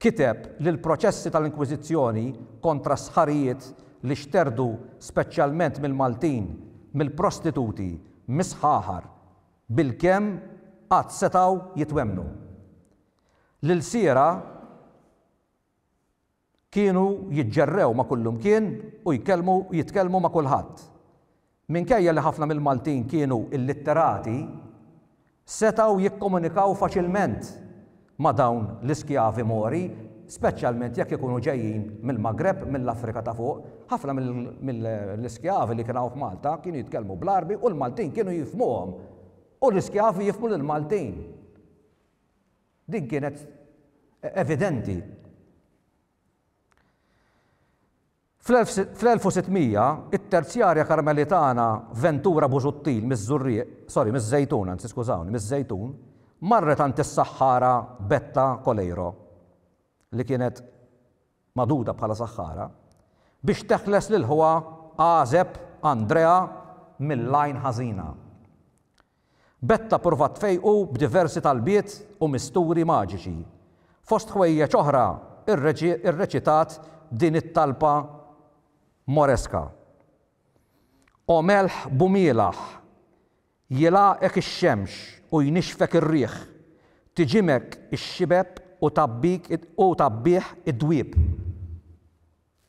kiteb li l-proċessi tal-Inkwiżizzjoni kontra s-sħarijiet li xterdu speċjalment mill-Maltin, mill-prostituti, mis-sħaħar, bilkemm qatt setgħu jitwemmnu. L-ilsiera, Kienu jiġġerrew ma' kullimkien u jkellmu jitkellmu ma' kulħadd. Minkejja li ħafna mill-Maltin kienu illitterati, setgħu jikkomunikaw faċilment ma' dawn l-iskjavi Mori, speċjalment jekk ikunu ġejjin mill-Magreb, mill-Afrika ta' Fuq. Ħafna mill-iskjavi li kien hawn f'Malta kienu jitkellmu bl-Għarbi u l-Maltin kienu jifhmuhom u l-iskjavi jifhmu lill-Maltin. Din kienet evidenti. Fl-1600, it-terzjarja Karmelitana Ventura Busuttil miż-Żurrieq, sorry, miż-Żejtun, anzi skużawni, miż-Żejtun, marret għand is-saħħara Betta Coleiro, li kienet magħduda bħala saħħara, biex teħles lil ħuha għażeb Andrea mill-għajn ħażina. Betta ppruvat tfejqu b'diversi talbiet u misturi maġiċi. Fost ħwejjeġ oħra rreċitat din it-talba Moresca, O melħ b'umielaħ, jilgħaqek ix-xemx u jnixxfek ir-riħ, tiġimek ix-xibeb u tgħabbih id-dwieb.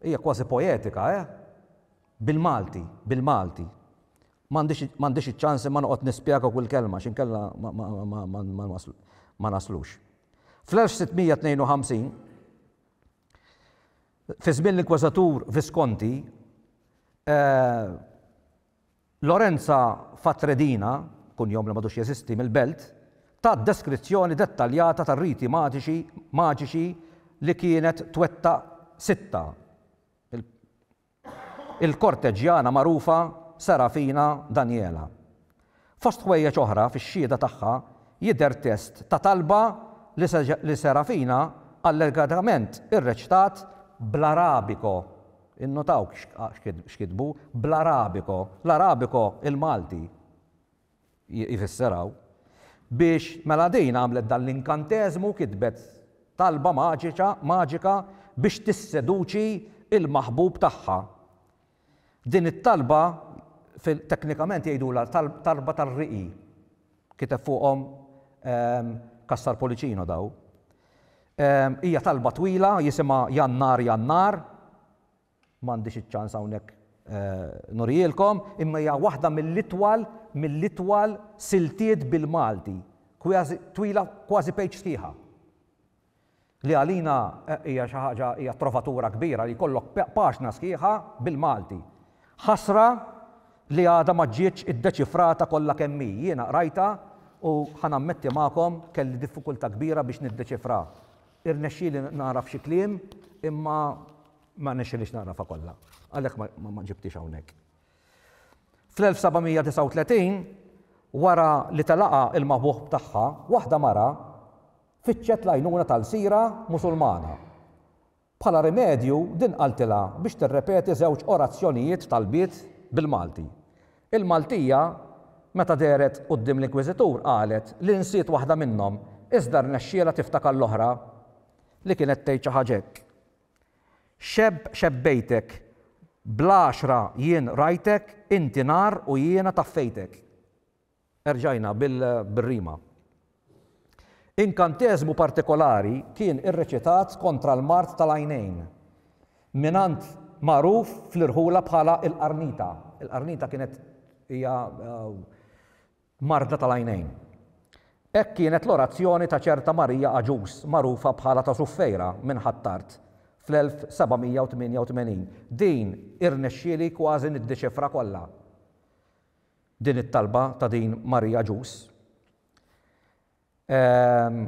Hija kważi poetika, eh? Bil-Malti, bil-Malti. M'għandix iċ-ċans imma noqgħod nispjega kull kelma għax inkella ma naslux. Fl-1652, fi żmien l-Inkweżatur Visconti, Lorenza Fatredina, kunjom li m'għadux jeżisti, mill-Belt, tat deskrizzjoni dettaljata tar-riti matiċi maġiċi li kienet twettaq sitta il il-korteġġjana magħrufa Serafina Daniela. Fost ħwejjeġ oħra fix-xhieda tagħha jidher test ta' talba li li Serafina allegatament irreċtat bl-Arabiko. Innotaw x'kitbu bl-Arabiko, l-Arabiko il-Malti jfisser hawn, biex mela din għamlet dan l-inkanteżmu, kitbet talba maġiċa, maġika biex tisseduċi l-maħbub tagħha. Din it-talba fil, teknikament jgħidulha talba tar-riqi. Kiteb fuqhom Cassar Policino daw. Hija talba twila, jisimha Jannar Jannar, m'għandix iċ-ċans hawnhekk nurihielkom, imma hija waħda mill-itwal mill-itwal siltiet bil-Malti, twila kważi page sħiħa. li għalina hija xi ħaġa hija trovatura kbira li jkollok paġna sħiħa bil-Malti. Ħasra li għadha ma ġietx iddeċifrata kollha kemm hi. Jiena qrajtha u ħa nammetti magħkom kelli diffikultà kbira biex niddeċifrha. Irnexxieli nagħraf xi kliem imma ma rnexxilix nagħrafha kollha. Għalhekk ma ġibtiex hawnhekk. Fl-1739, wara li telaqha il-maħbuħ tagħha, waħda mara fittxet l-għajnuna ta' lsira Musulmana. Bħala rimedju, din qaltilha biex tirrepeti żewġ orazzjonijiet, talbiet, bil-Malti. Il-Maltija, meta dehret quddiem l-inkwiżitur, qalet li nsiet waħda minnhom, iżda rnexxielha tiftakar l-oħra, li kienet tgħid xi ħaġa hekk, Xebb xebbejtek, bl-għaxra jien rajtek, inti nar u jiena taffejtek. Erġajna bir-rima. Inkanteżmu partikolari kien irreċitat kontra l-mard tal-għajnejn mingħand magħruf fl-irħula bħala il-Qarnita. Il-Qarnita kienet hija marda tal-għajnejn. Hekk kienet l-orazzjoni ta' ċerta Marija Għaġuż magħrufa bħala ta' Suffejra minn Ħ'Attard fl-1788. Din irnexxieli kważi niddiċifra kollha. Din it-talba ta' din Maria Jus. Ehm,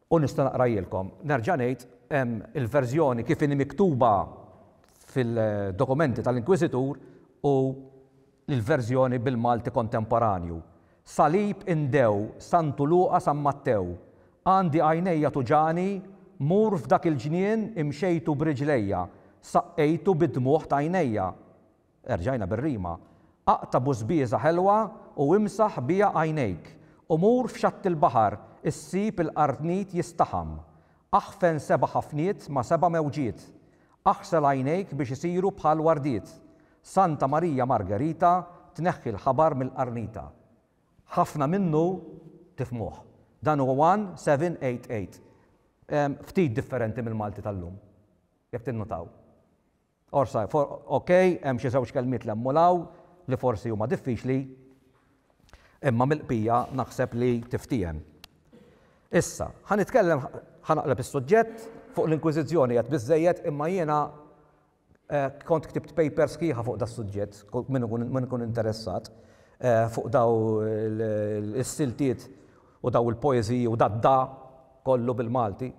u nista' naqrajilkom. Nerġa' ngħid, hemm il-verżjoni kif inhi miktuba fil-dokumenti tal-Inkwiżitur u l-verżjoni bil-Malti kontemporanju. Salib indew, Santu Luqa San Mattew. Għandi għajnejja tuġani, mur f'dak il-ġnien imxejtu b'riġlejja, saqqejtu bid-dmugħ t'għajnejja. Erġajna bir-rima, Aqta' bużbieża ħelwa u imsaħ biha għajnejk, u mur f'xatt il-baħar issib il-qarnit jistaħam. Aħfen seba' ħafniet ma' seba' mewġiet. Aħsel għajnejk biex isiru bħal wardiet. Santa Marija Margerita tneħħi l-ħabar mill-qarnita. Ħafna minnu tifhmuh. Dan hu 1788. Ftit differenti mill-Malti tal-lum, jekk tinnutaw. Orsa, Ok, hemm xi żewġ kelmiet 'l hemm u 'l hawn li forsi huma diffiċli, imma mill-qbija naħseb li tiftiehem. Issa, ħa nitkellem, ħa naqleb is-suġġett, fuq l-Inkwiżizzjoni għedt biżżejjed imma jiena kont ktibt paper sħiħa fuq das-suġġett, min ikun interessat, fuq daw is-siltiet u daw il-poeżiji u dad-da kollu bil-Malti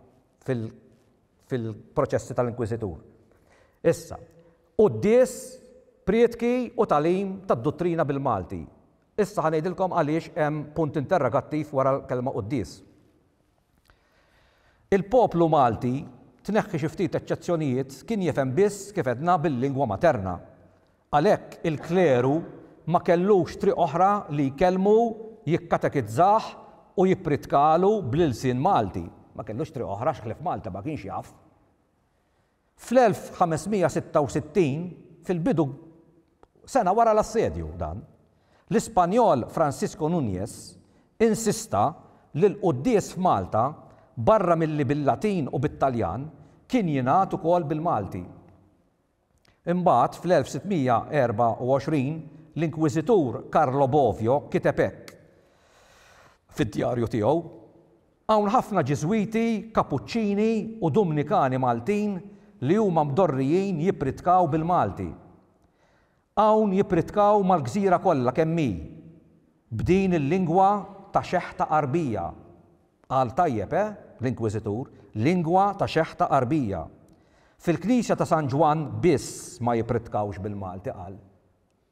fil-. fil-proċessi tal-Inkwiżitur. Issa, quddies, prietki u tagħlim tad-duttrina bil-Malti. Issa ħa ngħidilkom għaliex hemm punt interrogattiv wara l-kelma quddies. Il-poplu Malti, tneħħi xi ftit eċċezzjonijiet, kien jifhem biss, kif għedna, bil-lingwa materna. Għalhekk il-kleru ma kellux triq oħra li jkellmu, jikkatekizzah u jippritkalu bl-ilsien Malti. Ma kellux triq oħra għax ħlief Malta ma kienx jaf. Fl-1566, fil-bidu sena wara l-assedju dan, l-Ispanjol Francisco Nuñez insista li l-quddies f'Malta barra milli bil-Latin u bit-Taljan kien jingħad ukoll bil-Malti. Imbagħad, fl-1624, l-Inkwiżitur Carlo Bovio kiteb hekk fid-djarju tiegħu, Hawn ħafna Ġiżwiti, Kapuċċini u Dumnikani Maltin li huma mdorrijin jippritkaw bil-Malti. Hawn jippritkaw mal-gżira kollha kemm hi, b'din il-lingwa ta' xeħta qarbija. Qal tajjeb, eh, l-Inkwiżitur, lingwa ta' xeħta Għarbija. Fil-Knisja ta' San Ġwann biss ma jippritkawx bil-Malti, qal.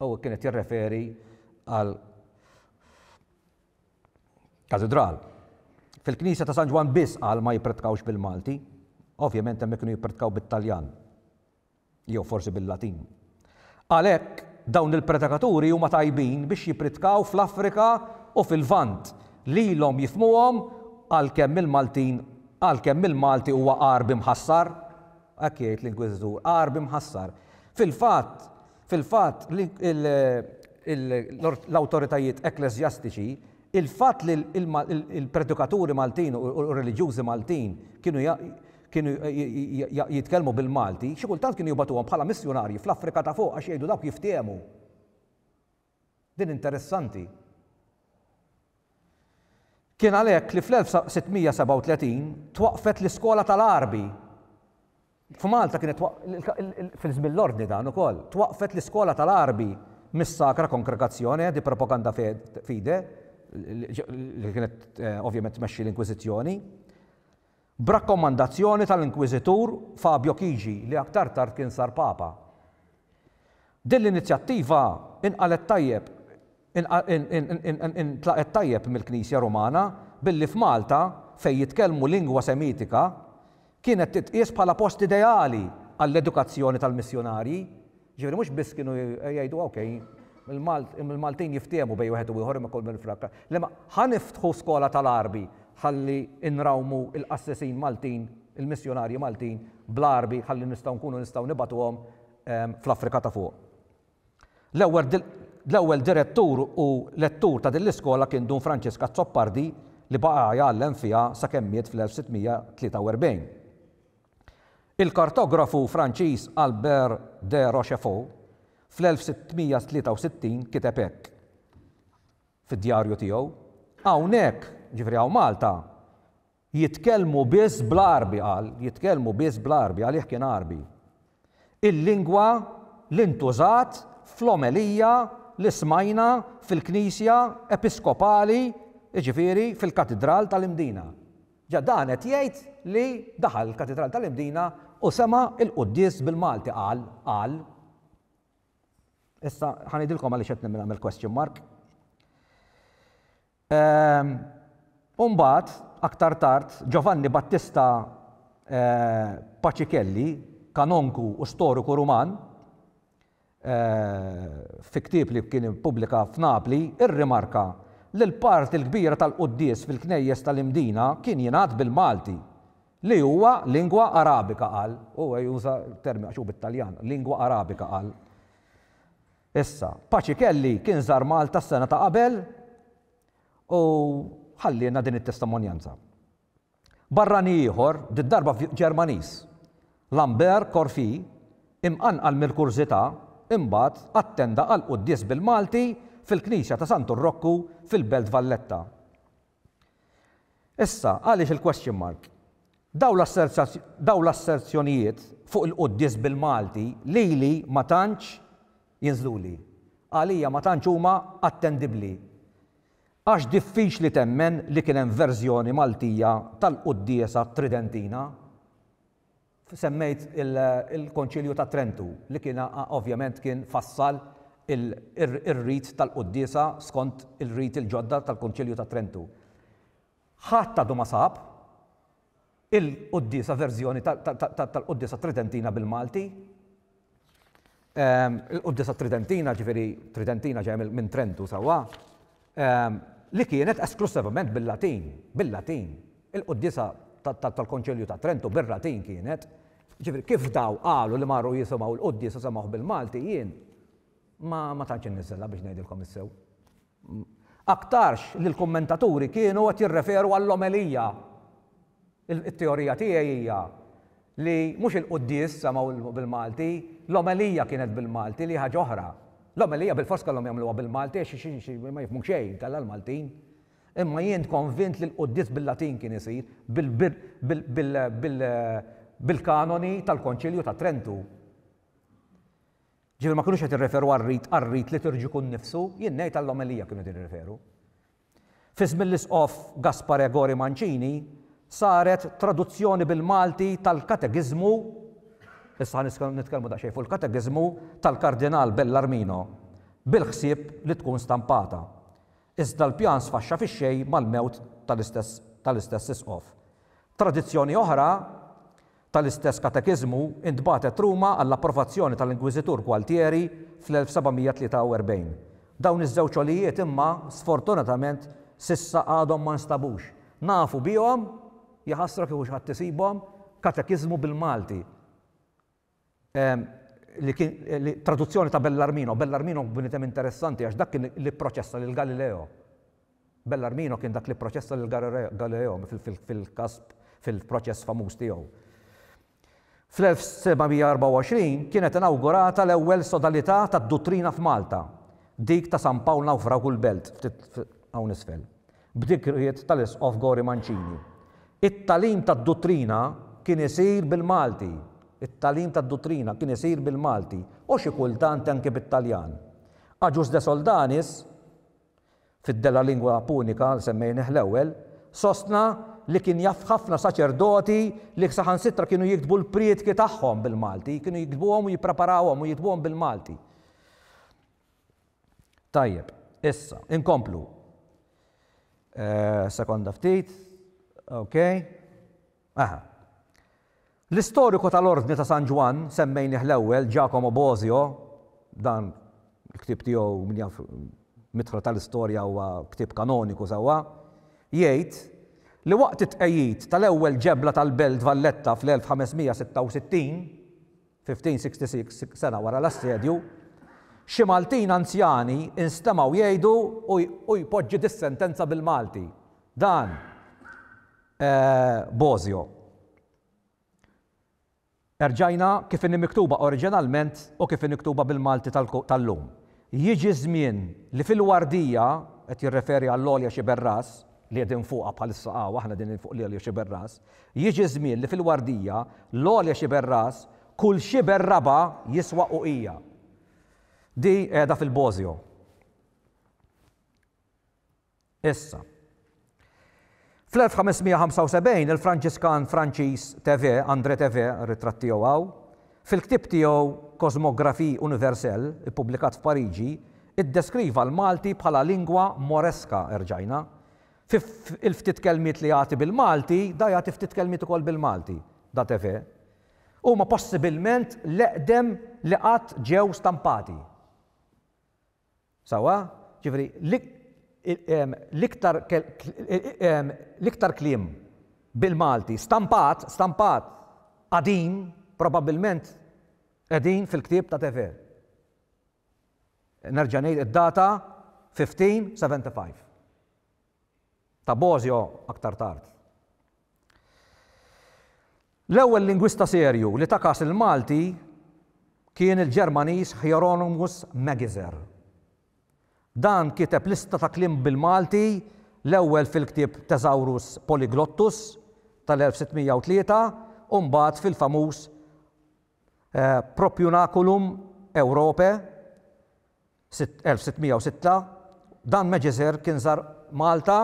U kien qed jirreferi għal katidral. Fil-Knisja ta' San Ġwann biss, qal, ma jippritkawx bil-Malti. Ovvjament hemmhekk kienu jippritkaw bit-Taljan. jew forsi bil-Latin. Għalhekk, dawn il-predikaturi huma tajbin biex jippridkaw fl-Afrika u fil-Lvant, li ilhom jifhmuhom għalkemm il-Maltin għalkemm il-Malti huwa Għarbi mħassar. Hekk jgħid l-Inkwiżitur, Għarbi mħassar. Fil-fatt, fil-fatt, l-awtoritajiet ekkleżjastiċi Il-fatt li l-predikaturi Maltin u r-reliġjużi Maltin kienu kienu jitkellmu bil-Malti, xi kultant kienu jibgħatuhom bħala missjunarji fl-Afrika ta' Fuq għax jgħidu dawk jiftiehmu. Din interessanti. Kien għalhekk li fl-1637 twaqqfet l-Iskola tal-Għarbi. F'Malta kienet fil-żmien l-Ordni dan ukoll, twaqqfet l-iskola tal-Għarbi mis-Sacra Congregazione di Propaganda Fide, li kienet ovvjament tmexxi l-Inkwiżizzjoni, b'rakkomandazzjoni tal-Inkwiżitur Fabio Chigi li aktar tard kien sar Papa. Din l-inizjattiva inqalgħet tajjeb intlaqgħet tajjeb mill-Knisja Rumana billi f'Malta, fejn jitkellmu lingwa Semitika, kienet titqies bħala post ideali għall-edukazzjoni tal-missjunarji. Ġifieri mhux biss kienu jgħidu ok, il-Maltin jiftiehmu bejn wieħed u ieħor imma kull min f'Rakka. Le ma ħa niftħu skola tal-Għarbi ħalli nrawmu l-qassisin Maltin, il-missjunarji Maltin bl-Għarbi ħalli nistgħu nkunu nistgħu nibgħatuhom fl-Afrika ta' Fuq. L-ewwel direttur u lettur ta' din l-iskola kien Dun Franċisk Azzopardi li baqa' jgħallem fiha sakemm miet fl-1643. Il-kartografu Franċiż Albert de Rochefort fl-1663 kiteb hekk fid-djarju tiegħu, Hawnhekk, jiġifieri hawn Malta, Jitkellmu biss bl-Għarbi, qal, jitkellmu biss bl-Għarbi, għalih kien Għarbi. Il-lingwa li ntużat fl-omelija li smajna fil-Knisja Episkopali, jiġifieri fil-Katidral tal-Imdina. Ġa dan qed jgħid li daħal il-Katidral tal-Imdina u sema' l-quddies bil-Malti, qal, qal. Issa ħa ngħidilkom għaliex qed nagħmel question mark. U mbagħad, aktar tard, Giovanni Battista Pacicelli, kanonku u storiku Ruman, fi ktieb li kien ippubblika f'Napli, irrimarka li l-parti l-kbira tal-quddies fil-knejjes tal-Imdina kien jingħad bil-Malti, li huwa lingwa Arabika, qal. Huwa juża terminu, għax hu bit-Taljan, lingwa Arabika, qal. Issa, Paci Kelly kien żar Malta s-sena ta' qabel u ħallielna din it-testimonjanza. Barrani ieħor, did-darba Ġermaniż, Lambert Corfi, imqanqal mill-kurżità, imbagħad attenda għall-quddies bil-Malti fil-knisja ta' Santu Rokku fil-Belt Valletta. Issa, għaliex il-question mark? Dawn l-asserzjonijiet fuq il-quddies bil-Malti lili ma tantx jinżluli. Għalija ma tantx huma attendibbli. Għax diffiċli temmen li kien hemm verżjoni Maltija tal-quddiesa tridentina. Semmejt il-Konċilju ta' Trentu li kien ovvjament kien fassal ir-rit tal-quddiesa skont il-riti il-ġodda tal-Konċilju ta' Trentu. Ħadd għadu ma sab il-quddiesa verżjoni tal-quddiesa tridentina bil-Malti. il-Quddiesa Tridentina, ġifieri Tridentina ġejja minn Trentu sewwa, li kienet esklussivament bil-Latin, bil-Latin. Il-Quddiesa tal-Konċilju ta' Trentu bir-Latin kienet. Ġifieri kif daw qalu li marru jisimgħu l-Quddiesa semgħuh bil-Malti, jien ma tantx inniżżilha biex ngħidilkom is-sew. Aktarx li l-kummentaturi kienu qed jirreferu għall-omelija. It-teorija tiegħi hija li mhux il-quddies semgħu bil-Malti, l-omelija kienet bil-Malti li hi ħaġa oħra. L-omelija bilfors kellhom jagħmluha bil-Malti għax ma jifhmu xejn inkella l-Maltin. Imma jien konvint li l-quddies bil-Latin kien isir, bil-kanoni tal-Konċilju ta' Trentu. Ġifieri ma kinux qed jirreferu għar-rit għar-rit liturġiku nnifsu, jien ngħid għall-omelija kienu qed jirreferu. Fi żmien l-Isqof Gaspare Gori Mancini saret traduzzjoni bil-Malti tal-Katekiżmu, issa ħa nitkellmu daqsxejn fuq il-Katekiżmu, tal-Kardinal Bellarmino bil-ħsieb li tkun stampata. Iżda l-pjan sfaxxa fix-xejn mal-mewt tal-istess Isqof. Tradizzjoni oħra, Tal-istess katekiżmu intbagħtet Ruma għall-approvazzjoni tal-Inkwiżitur Gualtieri fl-1743. Dawn iż-żewġ għolijiet imma, sfortunatament, s'issa għadhom ma nstabux. Nafu bihom, jaħasra kieku xi ħadd isibhom, katekiżmu bil-Malti. li kien traduzzjoni ta' Bellarmino, Bellarmino bniedem interessanti għax dak kien li pproċessa lil Galileo. Bellarmino kien dak li pproċessa lil Galileo fil-każ fil-proċess famuż tiegħu. Fl-1724 kienet inawgurata l-ewwel sodalità tad-duttrina f'Malta, dik ta' San Pawl Nawfragu l-Belt, ftit hawn isfel. b'dikriet tal-Isqof Gori Mancini. It-tagħlim tad-duttrina kien isir bil-Malti, it-tagħlim tad-duttrina kien isir bil-Malti u xi kultant anki bit-Taljan. Agius de Soldanis, fid-De la lingua punica, li semmejnieh l-ewwel, sostna li kien jaf ħafna saċerdoti li saħansitra kienu jiktbu l-prietki tagħhom bil-Malti, kienu jiktbuhom u jippreparawhom u jiktbuhom bil-Malti. Tajjeb, issa, inkomplu. Sekonda ftit, ok. Aha. L-istoriku tal-Ordni ta' San Ġwann, semmejnih l-ewwel, Giacomo Bosio, dan il-ktieb tiegħu min jaf mitħla tal-istorja huwa ktieb kanoniku sewwa, jgħid li waqt it-tqegħid tal-ewwel ġebla tal-Belt Valletta fl-1566, 1566, sena wara l-assedju, xi Maltin anzjani instemgħu jgħidu u jpoġġi dis-sentenza bil-Malti, Dan, Bosio. Erġajna kif inhi miktuba oriġinalment u kif hi miktuba bil-Malti tal-lum. Jiġi ż-żmien li fil-Wardija, qed jirreferi għall-Għolja Sciberras, li qegħdin fuqha bħalissa hawn aħna qegħdin fuq l-Għolja Sciberras, jiġi ż-żmien li fil-Wardija, l-Għolja Sciberras, kull xiber raba' jiswa uqija. Di qiegħda fil-Bosio. Issa. Fl-1575 il-Franġiskan Franċiż Thevet, André Thevet, ritratt tiegħu hawn, fil-ktieb tiegħu Cosmographie universelle, ippubblikat f'Pariġi, iddeskriva l-Malti bħala lingua moresca, erġajna. Fi il-ftit kelmiet li jagħti bil-Malti, da jagħti ftit kelmiet ukoll bil-Malti, da Thevet, huma possibilment l-eqdem li qatt ġew stampati. Sewwa? Jiġifieri, l-iktar l-iktar kliem bil-Malti stampat, stampat, qadim, probabbilment qegħdin fil-ktieb ta' Tever. Nerġa' ngħid id-data 1575. ta' Bosio aktar tard. L-ewwel lingwista serju li ta kas il-Malti kien il-Ġermaniż Hieronymus Magizer. Dan kiteb lista ta' kliem bil-Malti l-ewwel fil-ktieb Thesaurus Polyglottus tal-1603 u mbagħad fil-famuż Propunaculum Europae 1606, Dan Magizer kien żar Malta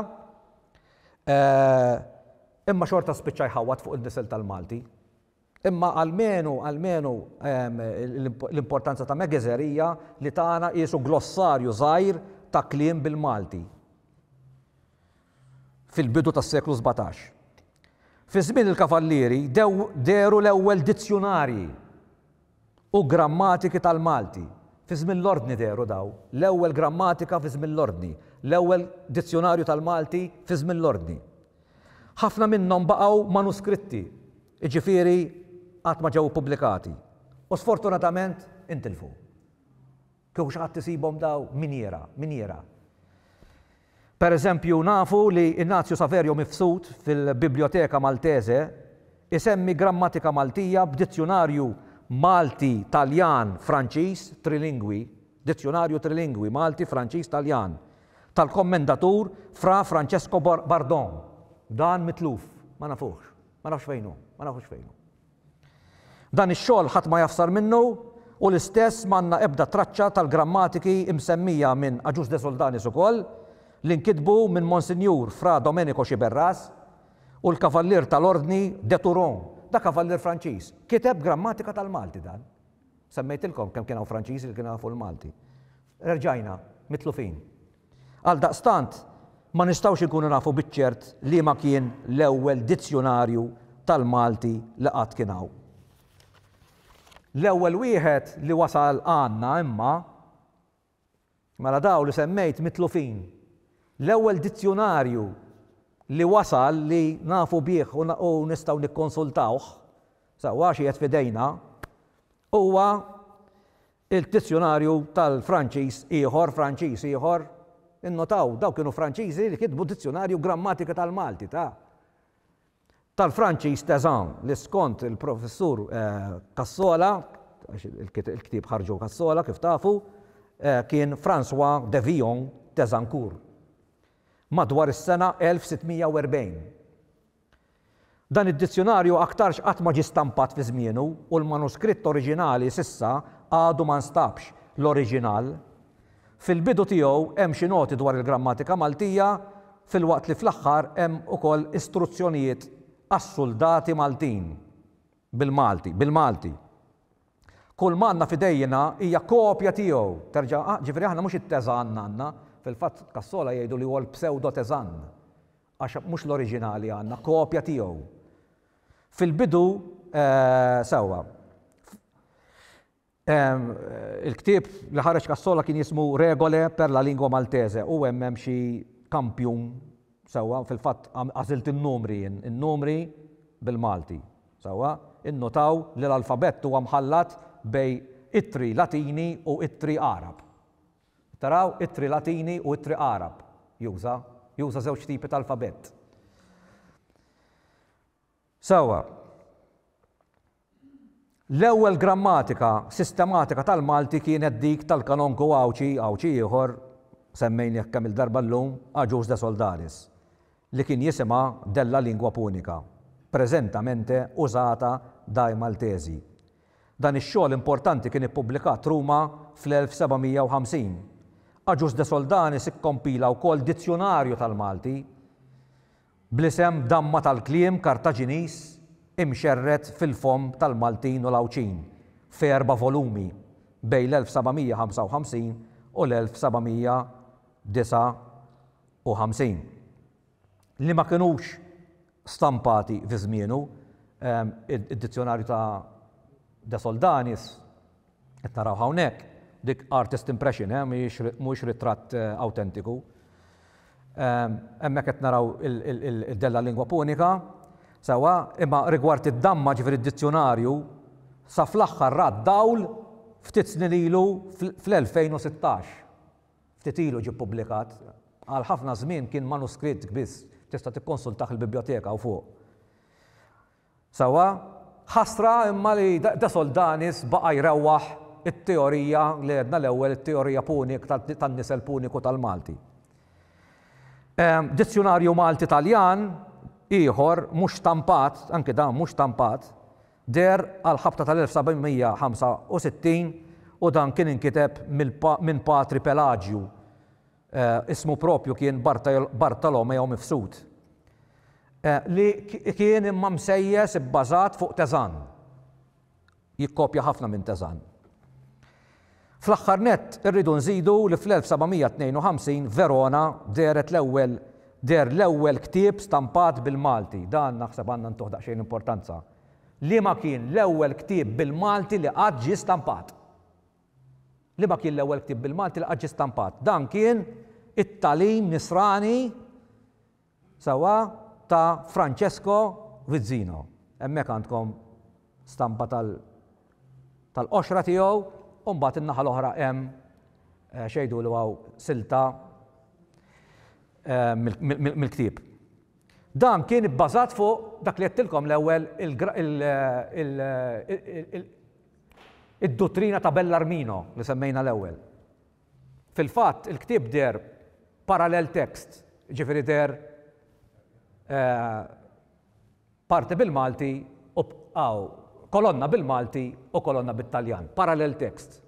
imma xorta spiċċa jħawwad fuq in-nisel tal-Malti. Imma almenu, almenu l-importanza ta' Magizer hija li tana qiesu glossarju żgħir ta' kliem bil-Malti fil-bidu tas-seklu sbatax. Fi żmien il-Kavallieri dehru l-ewwel dizzjunarji u grammatiki tal-Malti fi żmien l-Ordni dehru dawn, l-ewwel grammatika fi żmien l-Ordni, l-ewwel dizzjunarju tal-Malti fi żmien l-Ordni. Ħafna minnhom baqgħu manuskritti, jiġifieri għad ma ġew ippubblikati, u sfortunatament intilfu. Kieku xi ħadd isibhom daw minjiera, minjiera. Per eżempju, nafu li Ignazio Saverio Mifsud fil-Biblioteca Maltese isemmi grammatika Maltija b'dizzjunarju Malti, Taljan, Franċiż, trilingwi, Dizzjunarju trilingwi, Malti, Franċiż, Taljan, tal-Kommendatur Fra Francesco Bardon. Dan mitluf. Ma nafuhx. Ma nafx fejn hu. Ma nafux fejn hu. Dan ix-xogħol ħadd ma jafsar minnu u l-istess m'għandna ebda traċċa tal-grammatiki msemmija minn Agius de Soldanis ukoll, li nkitbu minn Monsinjur Fra Domenico Sciberras, u l-Kavallier tal-Ordni de Turon, da Kavallier Franċiż, kiteb grammatika tal-Malti dan. Semmejtilkom kemm kien hawn Franċiżi li kienu jafu l-Malti. Erġajna mitlufin. Għaldaqstant, ma nistgħux inkunu nafu biċ-ċert liema kien l-ewwel dizzjunarju tal-Malti li qatt kien hawn. L-ewwel wieħed li wasal għandna imma, mela dawn li semmejt mitlufin. L-ewwel dizzjunarju li wasal li nafu bih u nistgħu nikkonsultawh sewwa għax qiegħed f'idejna huwa Il-dizzjunarju tal-Franċiż ieħor, Franċiż ieħor, innotaw, dawn kienu Franċiżi li kitbu dizzjunarju u grammatika tal-Malti ta', tal-Franċiż Tezan, li skont il-Professur Cassola, għax il-ktieb ħarġu Cassola kif tafu, kien François de Villon Tezancourt, madwar is-sena 1640. Dan id-dizzjunarju aktarx qatt ma ġie stampat fi żmienu u l-manuskritt oriġinali s'issa għadu ma nstabx, l-oriġinal. Fil-bidu tiegħu hemm xi noti dwar il-grammatika Maltija filwaqt li fl-aħħar hemm ukoll istruzzjonijiet għas-suldati Maltin bil-Malti, bil-Malti. Kulma għandna f'idejjna hija kopja tiegħu, terġa', ġifieri aħna mhux it-Teżann għandna, fil-fatt Cassola jgħidu li huwa l-psewdo-Teżann. għax mhux l-oriġinali għandna, kopja tiegħu. Fil-bidu, sewwa, il-ktieb li ħareġ Cassola kien jismu Regole per la lingua maltese u hemm hemm xi kampjun sewwa fil-fatt għażilt in-numri jien, in-numri bil-Malti. Sewwa, innutaw li l-alfabett huwa mħallat bejn ittri Latini u ittri Għarab. Taraw ittri Latini u ittri Għarab. Juża. Juża żewġ tipi ta' alfabett. Sewwa. L-ewwel grammatika sistematika tal-Malti kienet dik tal-kanonku Għawdxi, Għawdxi ieħor, semmejnieh kemm-il darba llum, Agius de Soldaris, li kien jisimha Della Lingua Punica, preżentamente użata dai Maltesi. Dan ix-xogħol importanti kien ippubblikat Ruma fl-1750. Agius de Soldanis ikkompila wkoll dizzjunarju tal-Malti bl-isem Damma tal-Kliem Kartaġiniż imxerred fil-fomm tal-Maltin u l-Għawdxin f'erba' volumi bejn l-1755 u l-1759. li ma kinux stampati fi żmienu, id-Dizzjonarju ta' De Soldanis, qed narawh hawnhekk, dik artist impression, mhuwiex ritratt awtentiku. Hemmhekk qed naraw id-Della Lingua Punica, sewwa, imma rigward id-damma, ġifieri d-Dizzjonarju, sa fl-aħħar ra d-dawl ftit snin ilu fl-2016. Ftit ilu ġie ppubblikat. Għal ħafna żmien kien manuskritt biss, tista' tikkonsultah il-biblioteka hawn fuq. Sewwa? Ħasra imma li De Soldanis baqa' jrewwaħ it-teorija li għedna l-ewwel, it-teorija punik tan-nisel puniku tal-Malti. Dizzjunarju Malti-Taljan ieħor mhux stampat, anki dan mhux stampat, Deher għall-ħabta tal-1765 u dan kien inkiteb minn Patri Pelaġju, ismu proprju kien Bartolomeo Mifsud, li kien imma msejjes ibbażat fuq Tezan. Jikkopja ħafna minn Tezan. Fl-aħħar nett, irridu nżidu li fl-1752 Verona dehret l-ewwel deher l-ewwel ktieb stampat bil-Malti, dan naħseb għandna ntuh daqsxejn importanza, Liema kien l-ewwel ktieb bil-Malti li qatt ġie stampat? Liema kien l-ewwel ktieb bil-Malti li qatt ġie stampat? Dan kien it-tagħlim nisrani Sewwa ta' Francesco Vizzino. Hemmhekk għandkom stampa tal tal-qoxra tiegħu u mbagħad in-naħa l-oħra hemm x'jgħidulu hawn silta mill-ktieb. Dan kien ibbażat fuq dak li għedtilkom l-ewwel id-duttrina ta' Bellarmino li semmejna l-ewwel. Fil-fatt, il-ktieb deher parallel text, jiġifieri deher parti bil-Malti u aw, kolonna bil-Malti u kolonna bit-Taljan, parallel text.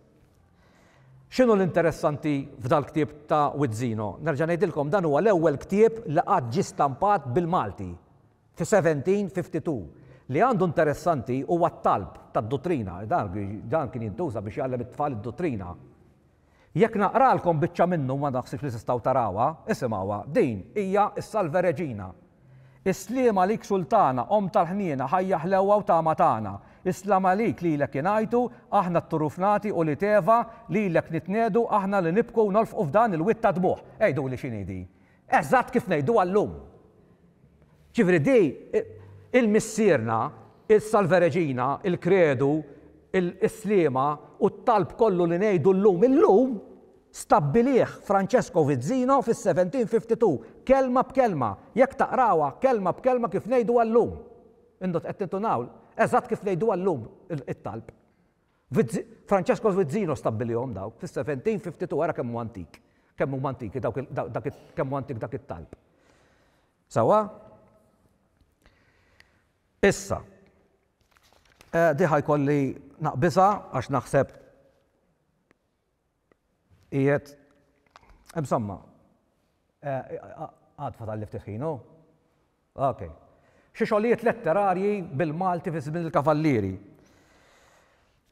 X'inhu l-interessanti f'dal-ktieb ta' Wizzino? Nerġa' ngħidilkom dan huwa l-ewwel ktieb li qatt ġie stampat bil-Malti. Fi 1752, li għandu interessanti huwa t-talb tad-duttrina, dan kien jintuża biex jgħallem it-tfal id-duttrina. Jekk naqralkom biċċa minnu ma naħsibx li tistgħu tarawha, isimgħuha, din hija s-Salve Regina. Is-sliem għalik Sultana, Omm tal-ħniena, ħajja ħlewwa u tama tagħna. Is-slam għalik lilek ingħajtu, aħna t-turuf nagħti u l-iteva, lilek nitniegħdu, aħna li nibku u nolfqu f'dan il-wied tad-dmugħ. Għiduli x'inhi din? Eżatt kif ngħiduha llum. Ġifieri di il-Missierna, il-Salve Regina, il-Kredu, is-Sliema u t-talb kollu li ngħidu llum illum, stabbilih Francesco Vizzino fis-1752, kelma b'kelma, jekk taqrawha kelma b'kelma kif ngħiduha llum. Intom qed tintunaw? Eżatt kif ngħiduha llum it-talb. Francesco Svizzino stabbilihom dawk fis-1752 ara kemm hu antik, kemm huma antiki dawk kemm hu antik dak it-talb. Sewwa? Issa, eh, diħa jkolli naqbisa għax naħseb Qiegħed, insomma, għad fadalli ftit ħin, hu? Ok. Xi xogħlijiet letterarji bil-Malti fi żmien il-Kavallieri.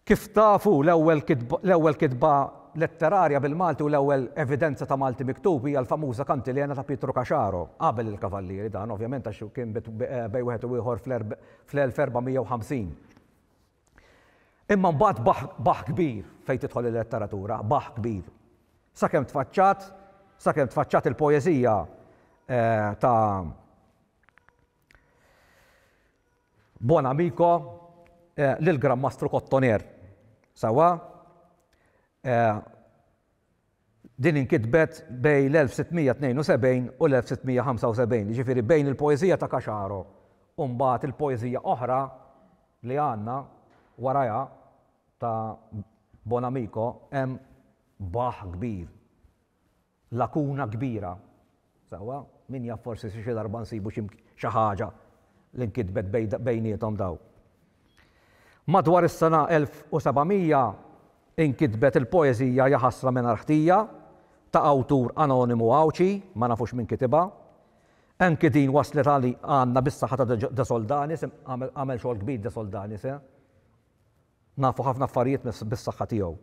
Kif tafu, l-ewwel kitba letterarja bil-Malti u l-ewwel evidenza ta' Malti miktub hija l-famuża Kantilena ta' Pietru Caxaro, qabel il-Kavallieri dan, ovvjament, għax kien bejn wieħed u ieħor fl-1450. Imma mbagħad baħħ, baħħ kbir fejn tidħol il-letteratura, baħħ kbir. Sakemm tfaċċat, sakemm tfaċċat il-poeżija ta' Buon Amico lill-Gran Mastru Cottoner. Sewwa? Din inkitbet bejn l-1672 u l-1675, jiġifieri bejn il-poeżija ta' Caxaro u mbagħad il-poeżija oħra li għandna warajha ta' Bonamico hemm baħħ kbir, lakuna kbira. Sewwa, min jaf forsi xi darba nsibu xi xi ħaġa li nkitbet bejniethom dawn. Madwar is-sena 1700 inkitbet il-poeżija Ja Ħasra Mingħajr Ħtija ta' awtur anonimu Għawdxi, ma nafux min kitibha. Anki din waslet għandna bis-saħħa ta' De Soldanis, għamel xogħol kbir De Soldanis, eh? Nafu ħafna affarijiet bis-saħħa tiegħu.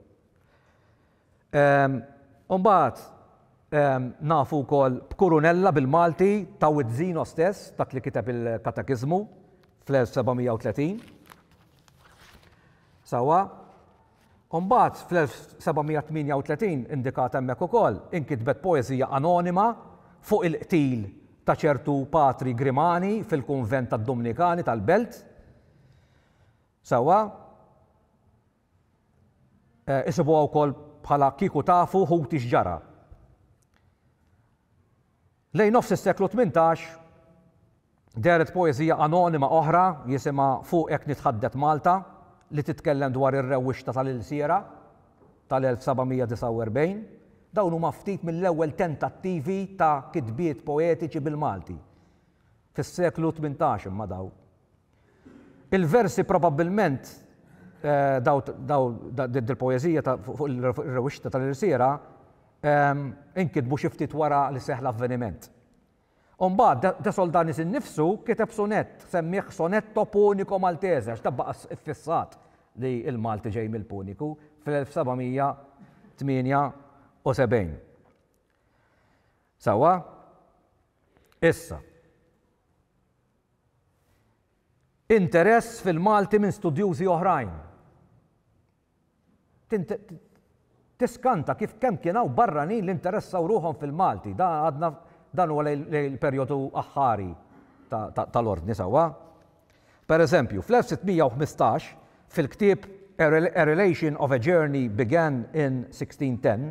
U mbagħad nafu wkoll b'Kurunella bil-Malti ta' Wied Żino stess, dak li kiteb il-Katekiżmu fl-1730. Sewwa? U mbagħad fl-1738 indikat hemmhekk ukoll inkitbet poeżija anonima fuq il-qtil ta' ċertu Patri Grimani fil-kunvent tad-Dumnikani tal-Belt. Sewwa, isibuha wkoll bħala Kieku Tafu Ħuti X'Ġara. Lejn nofs is-seklu tmintax, dehret poeżija anonima oħra jisimha Fuq Hekk Nitħaddet Malta li titkellem dwar ir-rewwixta tal-ilsiera tal-1749. Dawn huma ftit mill-ewwel tentattivi ta' kitbiet poetiċi bil-Malti fis-seklu tmintax imma dawn. Il-versi probabbilment dil-poeżija fuq ir-rewwixta tal-irsiera inkitbu xi ftit wara li seħħ l-avveniment. U mbagħad De Soldanis innifsu kiteb sunett, semmieh Sonetto Punico Maltese għax dan baqa' ffissat li l-Malti ġej mill-Puniku fl-1778. Sewwa? Issa. Interess fil-Malti minn studjużi oħrajn. Tiskanta kif kemm kien hawn barranin li nteressaw ruħhom fil-Malti. Dan għadna dan huwa lejn il-perjodu aħħari tal-Ordni sewwa. Pereżempju, fl-1615, fil-ktieb A Relation of a Journey Began in 1610,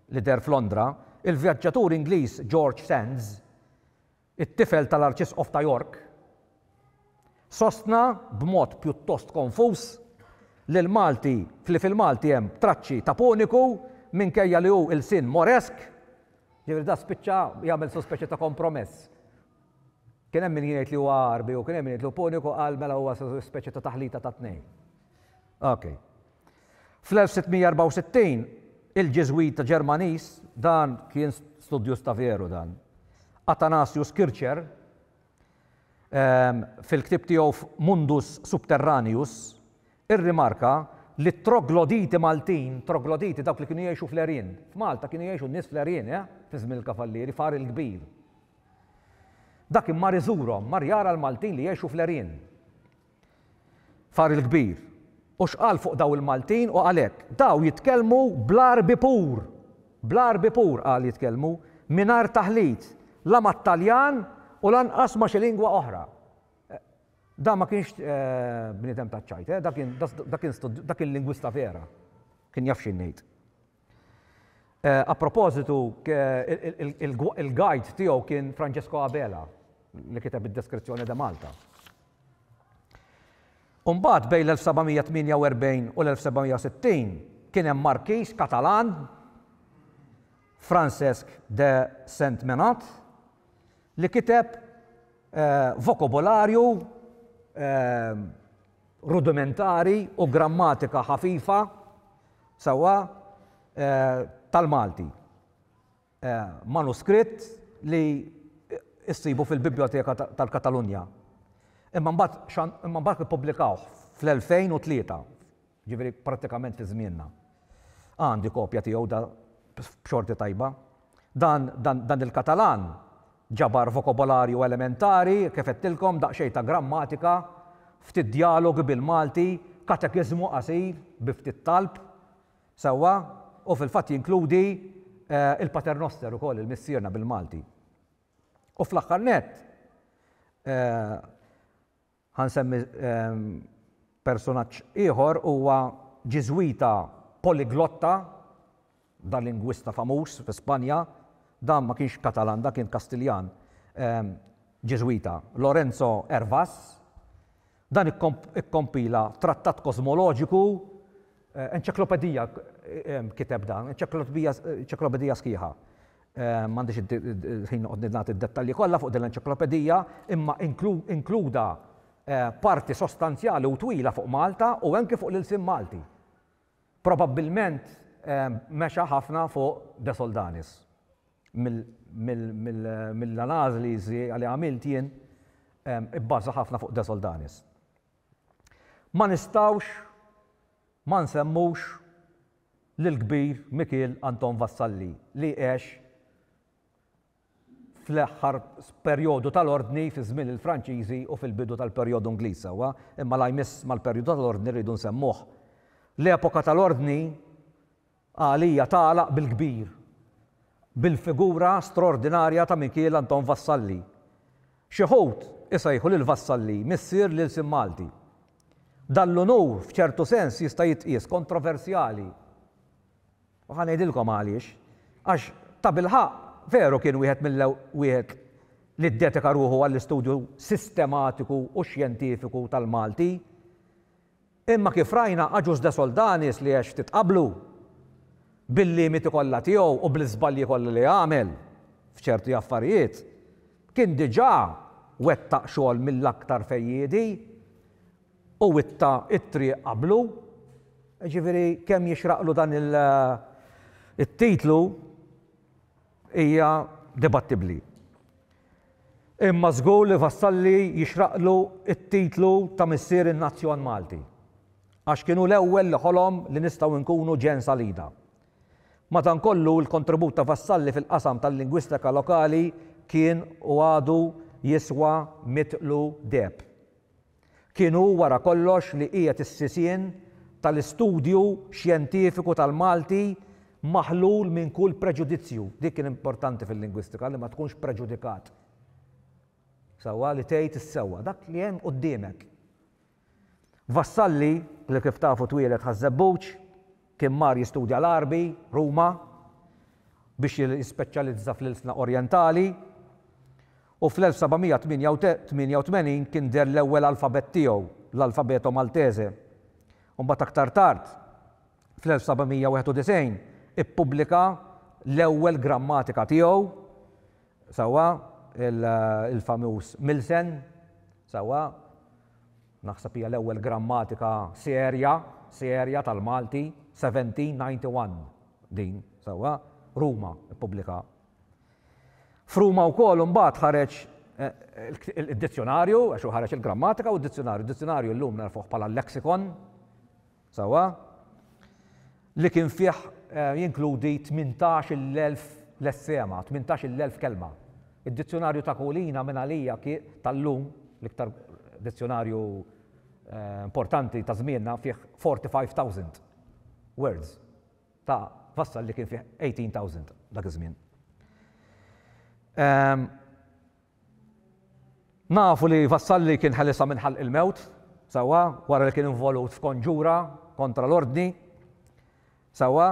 li deher f'Londra, il-vjaġġatur Ingliż George Sandys it-tifel tal-Arċisqof ta' York, sostna b'mod pjuttost konfuż li l-Malti li fil-Malti hemm traċċi ta' Puniku minkejja li hu ilsien Moresk, jiġifieri dan spiċċa jagħmel some speċi ta' kompromess. Kien hemm min jgħid li huwa Għarbi u kien hemm min jgħid li hu Puniku qal mela huwa speċi ta' taħlita tat-tnejn. Okay. Fl-1664, il-Ġiżwita Ġermaniż, dan kien studjuż ta' veru dan, Athanasius Kircher, fil-ktieb tiegħu Mundus Subterraneus, irrimarka li t-trogloditi Maltin, trogloditi dawk li kienu jgħixu fl-għerien, f'Malta kienu jgħixu n-nies fl-għerien, eh, fi żmien il-Kavallieri, f'Għar il-Kbir. Dak kien mar iżurhom, mar jara l-Maltin li jgħixu fl-għerien. Far il-kbir. U x'qal fuq daw il-Maltin u qal hekk, Daw jitkellmu bl-Għarbi pur! Bl-Għarbi pur, qal, jitkellmu, mingħajr taħlit, la mat-Taljan u lanqas ma' xi lingwa oħra. Da ma kienx bniedem taċ-ċajt, da kien lingwista vera. Kien jaf xi ngħid. A propositu, il-guide tiegħu kien Francesco Abela, li kiteb id-Descrizione de Malta. U mbagħad bejn l-1748 u l-1760 kien hemm Markix Katalan, Francesc de Sentmenat, li kiteb vokobularju rudimentari u grammatika ħafifa sewwa tal-Malti. Manuskritt li ssibu fil-Bibljoteka tal-Katalunja. Imma mbagħad imma mbagħad ippubblikawh fl-2003, jiġifieri prattikament fi żmienna. Għandi kopja tiegħu da b'xorti tajba. Dan, dan, dan il-Katalan ġabar vokobolarju elementari, kif għedtilkom, daqsxejn ta' grammatika, ftit djalogi bil-Malti, katekiżmu qasir bi ftit talb, sewwa, u fil-fatt jinkludi il-Paternoster ukoll, il-Missierna bil-Malti. U fl-aħħar nett, Ħa nsemmi persunaġġ ieħor, huwa Ġiżwita poliglotta, da lingwista famuż fi Spanja, dan ma kienx Katalan, dan kien Kastiljan, Ġiżwita, Lorenzo Hervas. Dan ikkompila trattat kosmoloġiku, enċeklopedija kiteb dan, enċeklopedija sħiħa. M'għandix il-ħin noqgħod nagħti d-dettalji kollha fuq din l-enċiklopedija, imma inkluda parti sostanzjali u twila fuq Malta u anki fuq l-ilsien Malti. Probabbilment mexa ħafna fuq De Soldanis. Mill-analiżi li għamilt jien ibbaża ħafna fuq De Soldanis. Ma nistgħux ma nsemmux lill-kbir Mikiel Anton Vassalli li għex fl-aħħar perjodu tal-Ordni fi żmien il-Franċiżi u fil-bidu tal-perjodu Ingliż sewwa, imma la jmiss mal-perjodu tal-Ordni rridu nsemmuh. L-epoka tal-Ordni għalija tagħlaq bil-kbir bil-figura straordinarja ta' Mikiel Anton Vassalli. Xi wħud isejħu lil Vassalli missier l-ilsien Malti. Dan l-unur f'ċertu sens jista' jitqies kontroversjali. U ħa ngħidilkom għaliex. Għax tabilħaqq veru kien wieħed mill wieħed li ddedika ruħu għall-istudju sistematiku u xjentifiku tal-Malti. Imma kif rajna Agius de Soldanis li għex ftit qablu, bil-limiti kollha tiegħu u bl-iżbalji kollha li għamel f'ċerti affarijiet, kien diġà wettaq xogħol mill-aktar fejjiedi u witta t-triq qablu. Jiġifieri kemm jixraqlu dan it-titlu. hija dibattibbli. Imma żgur li Vassalli jixraqlu t-titlu ta' missier in-nazzjon Malti. Għax kien hu l-ewwel li ħolom li nistgħu nkunu ġen Salida. Madankollu l-kontribut ta' Vassalli fil-qasam tal-lingwistika lokali kien u għadu jiswa mitlu deheb. Kien hu wara kollox li qiegħed is-sisien tal-istudju xjentifiku tal-Malti maħlul minn kull preġudizzju. Dik kien importanti fil-lingwistika, li ma tkunx preġudikat. Sewwa li tgħid is-sewwa, dak li hemm quddiemek. Vassalli, li kif tafu twieled Ħaż-Żebbuġ, Kien mar jistudja l-Għarbi, Ruma, biex jispeċjalizza fl-ilsna Orjentali, u fl-1788 kien deher l-ewwel alfabett tiegħu, l-Alfabeto Maltese. Imbagħad aktar tard, fl-1791, ippubblika l-ewwel grammatika tiegħu, sewwa, il-famuż Milsen, sewwa. Naħseb hija l-ewwel grammatika serja, serja tal-Malti, 1791 din, sewwa, Ruma ppublika. F'Ruma wkoll imbagħad ħareġ id-dizzjonarju, għax hu ħareġ il-grammatika u d-dizzjonarju. Id-dizzjonarju llum narfuh bħala l-lexicon, sewwa, li kien fih jinkludi 18,000 lessema, 18,000 kelma. Id-Dizzjunarju ta' Kulina minn għalija tal-lum, l-iktar dizzjunarju importanti ta' żmienna fih 45,000 words ta' Vassal li kien fih 18,000 dak iż-żmien. Nafu li Vassalli kien ħelisha minn ħalq il-mewt, sewwa, wara li kien involut f'konġura kontra l-Ordni, sewwa,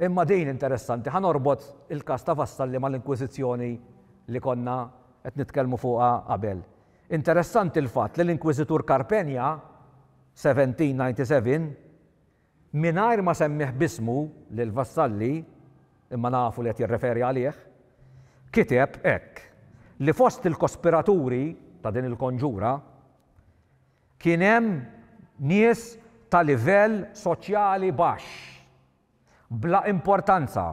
imma din interessanti, ħa norbot il-każ ta' Vassalli mal-Inkwiżizzjoni li konna qed nitkellmu fuqha qabel. Interessanti l-fatt li l-Inkwiżitur Carpegna, 1797, Mingħajr ma semmieh b'ismu lil Vassalli, imma nafu li qed jirreferi għalih, kiteb hekk, li fost il-kospiraturi ta' din il-konġura kien hemm nies ta' livell soċjali baxx, bla importanza,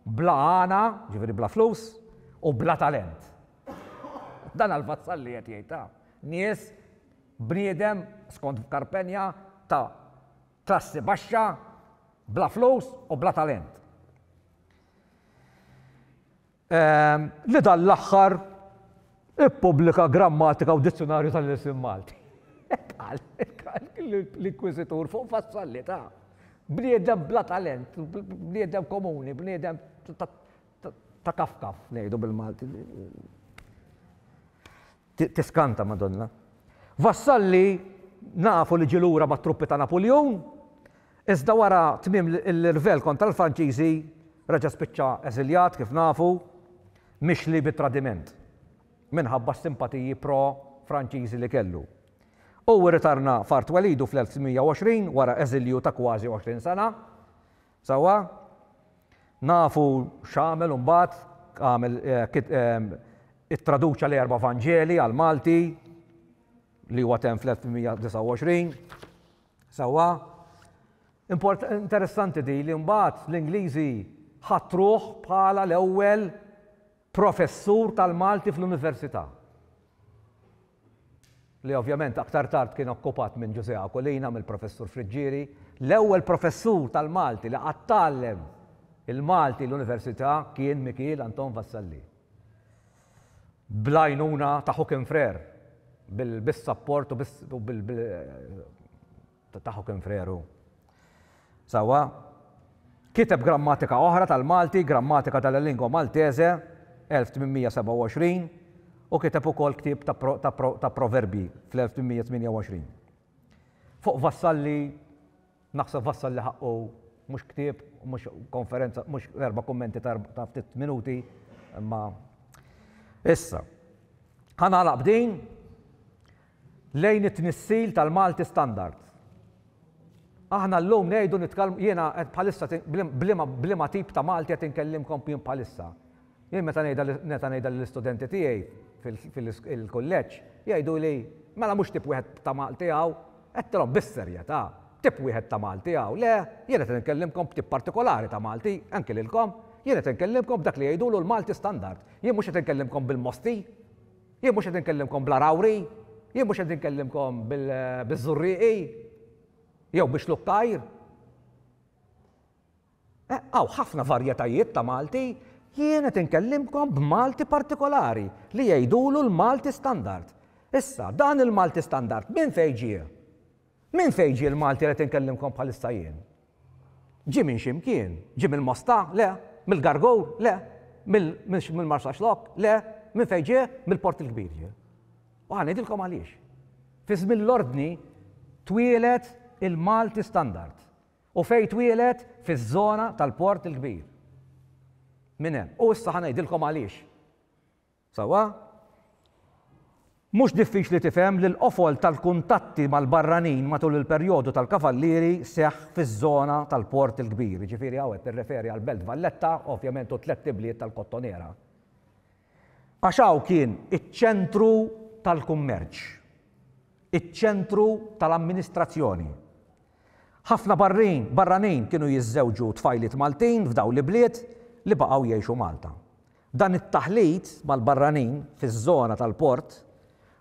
bla għana, jiġifieri bla flus, u bla talent. Dan għal Vassalli qed jgħid, ha, nies Bniedem, skont f'Carpegna, ta' klassi baxxa, bla flus u bla talent. Li dan l-aħħar ippubblika grammatika u dizzjunarju tal-ilsien Malti. Hekk qal l-Inkwiżitur fuq fassalli ta' bniedem bla talent, bniedem komuni, bniedem ta' kaf kaf, ngħidu bil-Malti. Tiskanta Madonna. Vassalli nafu li ġie lura mat-truppi ta' Napuljun, iżda wara tmiem l-irvell kontra l-Franċiżi reġa' spiċċa eżiljat kif nafu, mixli bi tradiment minħabba s-simpatiji pro-Franċiżi li kellu. Hu rritarna f'art twelidu fl-1620 wara eżilju ta' kważi 20 sena. Sewwa? Nafu x'għamel imbagħad, għamel ittraduċa l-erba' Vanġeli għall-Malti li huwa temm fl-1829. Sewwa? Import, interessanti di li mbagħad l-Ingliżi ħatruh bħala l-ewwel professur tal-Malti fl-Università, li ovvjament aktar tard kien okkupat minn Ġużè Aquilina, mill-Professur Friggieri, l-ewwel professur tal-Malti li qatt tgħallem il-Malti l-Università kien Mikiel Anton Vassalli, bl-għajnuna ta' Huckenfrère, bis-sapport u bil, Tagħha kien freru. Sewwa. Kiteb grammatika oħra tal-Malti, Grammatica della lingua maltese, 1827, u kiteb ukoll ktieb ta' proverbji fl-1828. Fuq Vassalli, naħseb Vassalli ħaqqu mhux ktieb, mhux konferenza, mhux erba' kummenti ta' ftit minuti, imma issa. Ħa nagħlaq b'din, lejn it-tnissil tal-Malti standard. Aħna llum ngħidu nitkellmu, jiena qed bħalissa b'liema tip ta' Malti qed inkellimkom jien bħalissa. Jien meta ngħidha lill-istudenti tiegħi fil-kulleġġ, jgħiduli, mela mhux tip wieħed ta' Malti hawn? Għedtilhom bis-serjetà, tip wieħed ta' Malti hawn, le, jien qed inkellimkom b'tip partikolari ta' Malti, anki lilkom, jien qed inkellimkom b'dak li jgħidulu l-Malti standard, jien mhux qed inkellimkom bil-Mosti. Jien mhux qed inkellimkom bl-Għargħuri, jien mhux qed inkellimkom biż-Żurrieqi jew bi Xlukk Għajr. Eh, hawn ħafna varjetajiet ta' Malti, jien qed inkellimkom b'Malti partikolari li jgħidulu l-Malti standard. Issa, dan il-Malti standard minn fejn ġie? Minn fejn ġie l-Malti li qed inkellimkom bħalissa jien? Ġie minn xi mkien? Ġie mill-Mosta? Le. Mill-Gargour? Le. Mill-Marsaxlokk? Le. Minn fejn ġie? Mill-Port il-Kbir ġie. U ħa ngħidilkom għaliex. Fi żmien l-Ordni twieled il-Malti Standard. U fejn twieled? Fiż-żona tal-Port il-Kbir. Minn hemm. U issa ħa ngħidilkom għaliex. Sewwa, mhux diffiċli tifhem li l-qofol tal-kuntatti mal-barranin matul il-perjodu tal-Kavallieri seħħ fiż-żona tal-Port il-Kbir, jiġifieri hawn qed nirreferi għall-Belt Valletta, ovvjament u t-tlett ibliet tal-Kottonera. Għax hawn kien iċ-ċentru tal-kummerċ, iċ-ċentru tal-amministrazzjoni. Ħafna barranin kienu jiżżewġu tfajliet Maltin f'dawn l-ibliet li baqgħu jgħixu Malta. Dan it-taħlit mal-barranin fiż-żona tal-port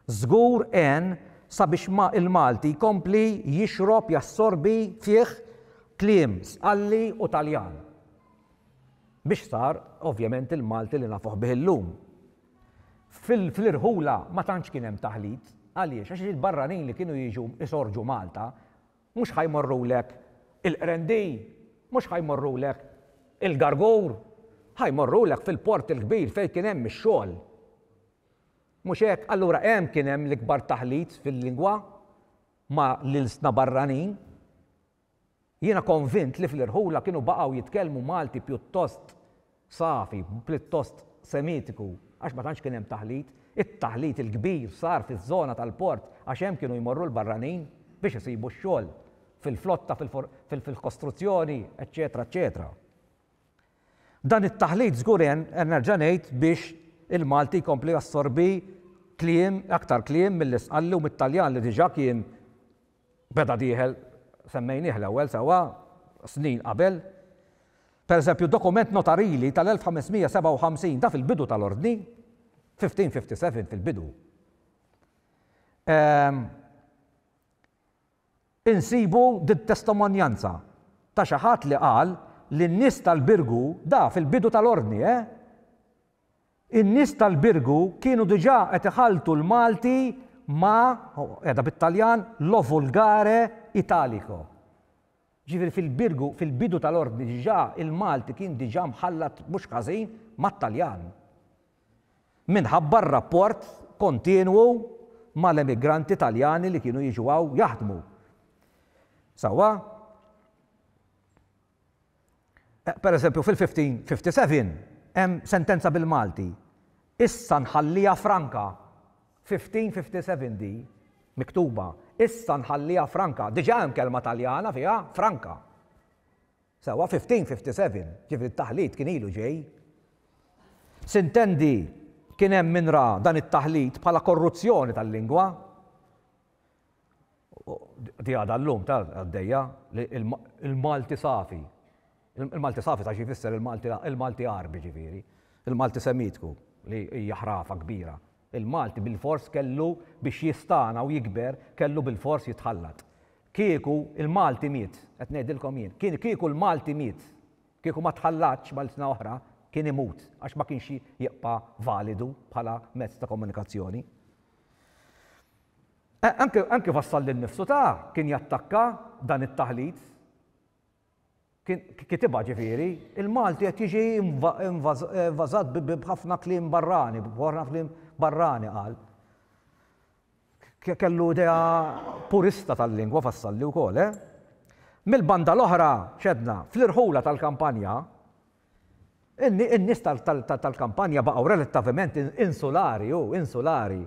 żgur għen sabiex il-Malti jkompli jixrob, jassorbi, fih kliem Sqalli u Taljan biex sar ovvjament il-Malti li nafuh bih illum. Fl-irħula ma tantx kien hemm taħlit. Għaliex? Għax il-barranin li kienu jiġu jsorġu Malta Mhux ħa jmorrulek il-Qrendi, mhux ħa jmorrulek il-Gargur, ħa jmorrulek fil-port il-kbir fejn kien hemm ix-xogħol. Mhux hekk? Allura hemm kien hemm l-ikbar taħlit fil-lingwa ma' l-ilsna barranin. Jiena konvint li fl-irħula kienu baqgħu jitkellmu Malti pjuttost safi, pljuttost semitiku, għax ma tantx kien hemm taħlit. It-taħlit il-kbir sar fiż-żona tal-port għax hemm kienu jmorru l-barranin biex isibu x-xogħol fil-flotta, fil-kostruzzjoni, eċċetera, eċċetera. Dan it-taħlit żgur għen, nerġa' ngħid, biex il-Malti jkompli jassorbi kliem, aktar kliem mill-Isqalli u mit-Taljan li diġà kien Beda dieħel, semmejnieh l-ewwel sewwa, snin qabel. Pereżempju, dokument notarili tal-1557, da fil-bidu tal-Ordni, 1557 fil-bidu, ehm, insibu din testemonjanza ta' xi ħadd li qal li n-nies tal-Birgu, da fil-bidu tal-Ordni, eh, In-nies tal-Birgu kienu diġà qed iħalltu l-Malti ma', qiegħda bit-Taljan, lo volgare italico. Jiġifieri fil-Birgu, fil-bidu tal-Ordni diġà il-Malti kien diġà mħallat mhux ħażin mat-Taljan. Minħabba r-rapport kontinwu mal-emigranti Taljani li kienu jiġu hawn jaħdmu. Sewwa? Pereżempju, fil-1557 hemm sentenza bil-Malti, Issa nħalliha franka. 1557 di miktuba, Issa nħalliha franka. Diġà hemm kelma Taljana fiha, franka. Sewwa, 1557, ġifieri t-taħlit kien ilu ġej. S'intendi kien hemm min ra dan it-taħlit bħala korruzzjoni tal-lingwa. Di għadha llum ta' għaddejja li il-Malti safi. Il-Malti safi ta' xi jfisser il-Malti Għarbi ġifieri, il-Malti Semitku li hija ħrafa kbira. Il-Malti bilfors kellu biex jistagħna u jikber kellu bilfors jitħallat. Kieku l-Malti miet, qed ngħidilkom jien, kieku l-Malti miet, kieku ma tħallatx mal-ilsna oħra, kien imut għax ma kienx jibqa' validu bħala mezz ta' komunikazzjoni. Anke anke fassal lil nnifsu ta' kien jattakka dan it-taħlit. Kien kitibha ġifieri, il-Malti qed jiġi invażat b'ħafna kliem barrani, b'ħafna kliem barrani qal. Kellu idea purista tal-lingwa Vassalli wkoll, eh? Mill-banda l-oħra, x'għedna, fl-irħula tal-kampanja, In-nies tal-kampanja baqgħu relattavement insulari, u insulari,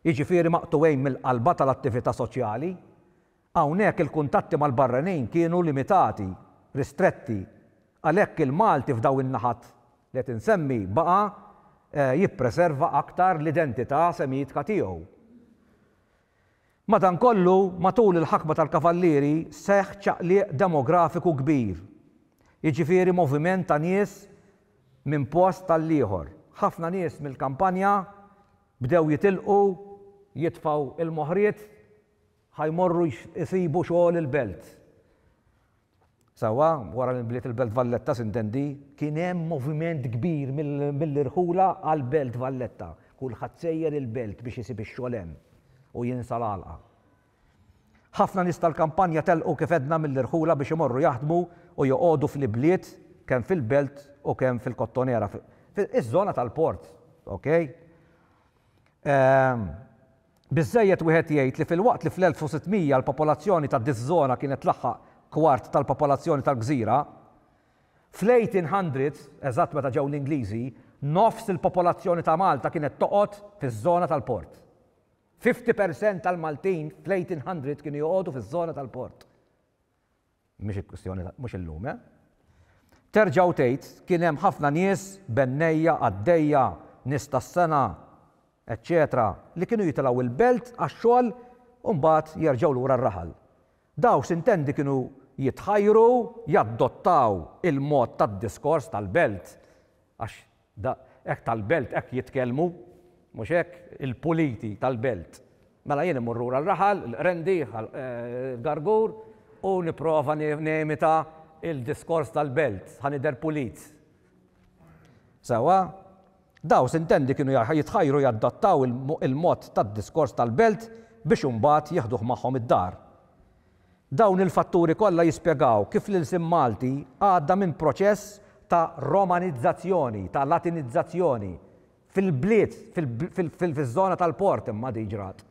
jiġifieri maqtugħin mill-qalba tal-attività soċjali. Hawnhekk il-kuntatti mal-barranin kienu limitati, ristretti. Għalhekk il-Malti f'daw in-naħat li qed insemmi baqa' jippreserva aktar l-identità Semitka tiegħu. Madankollu, matul il-ħakma tal-Kavallieri seħħ ċaqliq demografiku kbir, jiġifieri moviment ta' nies minn post għall-ieħor. Ħafna nies mill-kampanja bdew jitilqu, jitfgħu l-moħriet ħa jmorru jsibu xogħol il-belt. Sewwa wara li nbniet il-Belt Valletta s'intendi. Kien hemm moviment kbir mill-irħula għall-Belt Valletta. Kulħadd sejjer il-Belt biex isib ix-xogħol hemm u jinsa l-għalqa. Ħafna nies tal-kampanja telqu kif għedna mill-irħula biex imorru jaħdmu u joqogħdu fl-ibliet kemm fil-Belt u kemm fil-Kottonera, fiż-żona tal-port, ok? Biżżejjed wieħed jgħid li filwaqt li fl-1600 l-popolazzjoni ta' diż-żona kienet tlaħħaq kwart tal-popolazzjoni tal-gżira, fl-1800s, eżatt meta ġew l-Ingliżi, nofs il-popolazzjoni ta' Malta kienet toqgħod fiż-żona tal-port. Fifty percent tal-Maltin fl-1800 kienu joqogħdu fiż-żona tal-port. mhix il-kwistjoni ta' mhux illum, eh. Terġa' u tgħid, kien hemm ħafna nies, bennejja, qaddejja, nies tas-sengħa, eċċetera, li kienu jitilgħu l-belt għax-xogħol u mbagħad jerġgħu lura r-raħal. Dawk s'intendi kienu jitħajru jaddottaw il-mod tad-diskors tal-belt għax Da, hekk tal-Belt hekk jitkellmu, mhux hekk? Il-puliti tal-Belt. Mela jien immur lura r-raħal, il-Qrendi, Gargur, u nipprova nimita l-diskors tal-Belt, ħa nidher pulit. Sewwa? Daw, s'intendi, kienu jitħajru jadattaw il-mod tad-diskors tal-Belt biex imbagħad jieħduh magħhom id-dar. Dawn il-fatturi kollha jispjegaw kif l-ilsien Malti għadda minn proċess ta' Romanizzazzjoni, ta' Latinizzazzjoni, fil-bliet, fiż-żona tal-port imma din ġrat,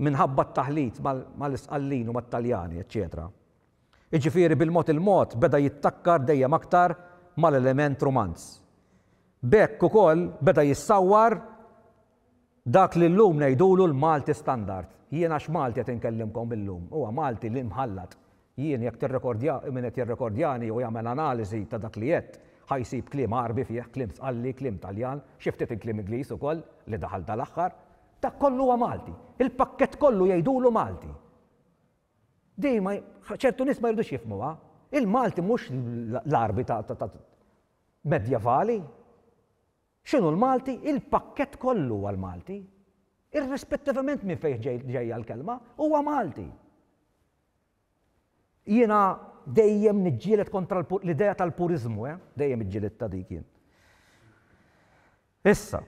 minħabba t-taħlit mal-Isqallin u mat-Taljani, eċċetera. Jiġifieri bil-mod il-mod beda jittakkar dejjem aktar mal-element Rumanz. B'hekk ukoll beda jissawwar Dak li llum ngħidulu l-Malti standard. Jien għax Malti qed inkellimkom illum, huwa Malti li mħallat. Jien jekk tirrekordja, min qed jirrekordjani jew jagħmel analiżi ta' dak li għedt, ħa jsib kliem Għarbi fih, kliem Sqalli, kliem Taljan, xi ftit il-kliem Ingliż ukoll li daħal dal-aħħar. Dak kollu huwa Malti. Il-pakkett kollu jgħidulu Malti. Din ma, ċertu nies ma jridux jifhmuha. Il-Malti mhux l-Għarbi ta' medjevali. X'inhu l-Malti? Il-pakkett kollu huwa l-Malti. Irrispettivament minn fejn ġejja l-kelma, huwa Malti. Jiena dejjem niġġieled kontra l-idea tal-puriżmu, eh? Dejjem iġġilidtha dik jien. Issa,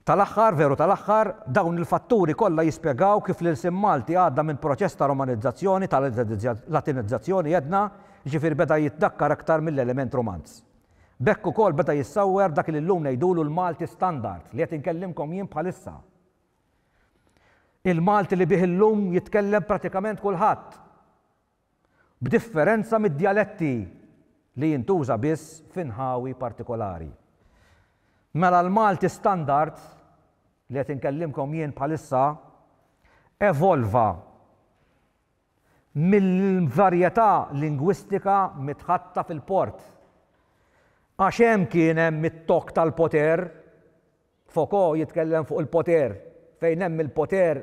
tal-aħħar, veru tal-aħħar, dawn il-fatturi kollha jispjegaw kif l-ilsien Malti għadda minn proċess ta' romanizzazzjoni, ta' latinizzazzjoni għedna, jiġifieri beda jitdakkar aktar mill-element Romanz. B'hekk ukoll beda jissawwer dak li llum ngħidulu l-Malti standard li qed inkellimkom jien bħalissa. Il-Malti li bih illum jitkellem pratikament kulħadd, b'differenza mid-djaletti li jintuża biss f'inħawi partikolari. Mela l-Malti standard li qed inkellimkom jien bħalissa evolva mill-varjetà lingwistika mitħatta fil-port. Għax hemm kien hemm it-tokk tal-poter, Foucault jitkellem fuq il-poter, fejn hemm il-poter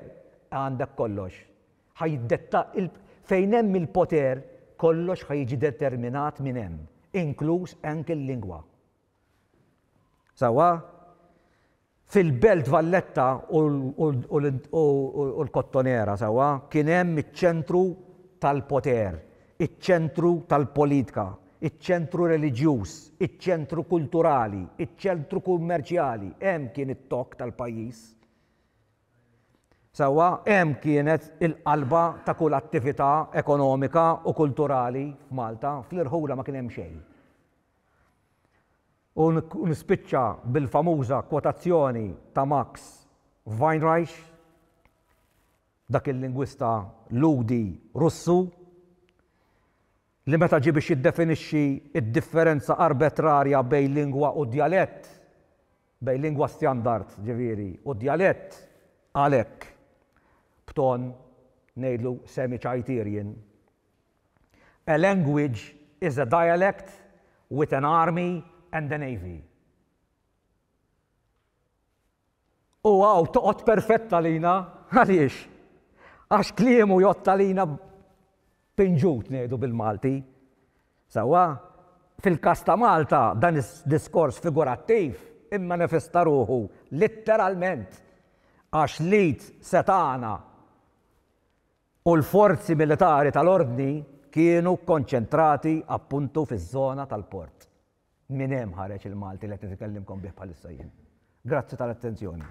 għandek kollox. Ħa jiddetta, fejn hemm il-poter kollox ħa jiġi determinat minn hemm, inkluż anke l-lingwa. Sewwa? Fil-Belt Valletta u l-Kottonera sewwa kien hemm iċ-ċentru tal-poter, iċ-ċentru tal-politka, iċ-ċentru reliġjuż, iċ-ċentru kulturali, iċ-ċentru kummerċjali, hemm kien it-tokk tal-pajjiż. Sewwa, hemm kienet il-qalba ta' kull attività ekonomika u kulturali f'Malta, fl-irħula ma kien hemm xejn. U nispiċċa bil-famuża kwotazzjoni ta' Max Weinreich, dak il-lingwista Lhudi Russu, li meta ġie biex jiddefinixxi d-differenza arbetrarja bejn lingwa u djalett, bejn lingwa stjandard, ġifieri, u djalett, qal hekk, b'ton, ngħidlu, semi-Chayterian, A language is a dialect with an army and a navy. U hawn toqgħod perfett għalina, għaliex? Għax kliemu jgħodd għalina pinġut ngħidu bil-Malti. Sewwa, fil-każ ta' Malta dan id-diskors figurattiv immanifesta ruħu litteralment għax l-id setgħana u l-forzi militari tal-Ordni kienu kkonċentrati appuntu fiż-żona tal-port. Minn hemm ħareġ il-Malti li qed nitkellimkom bih bħalissa jien. Grazzi tal-attenzjoni.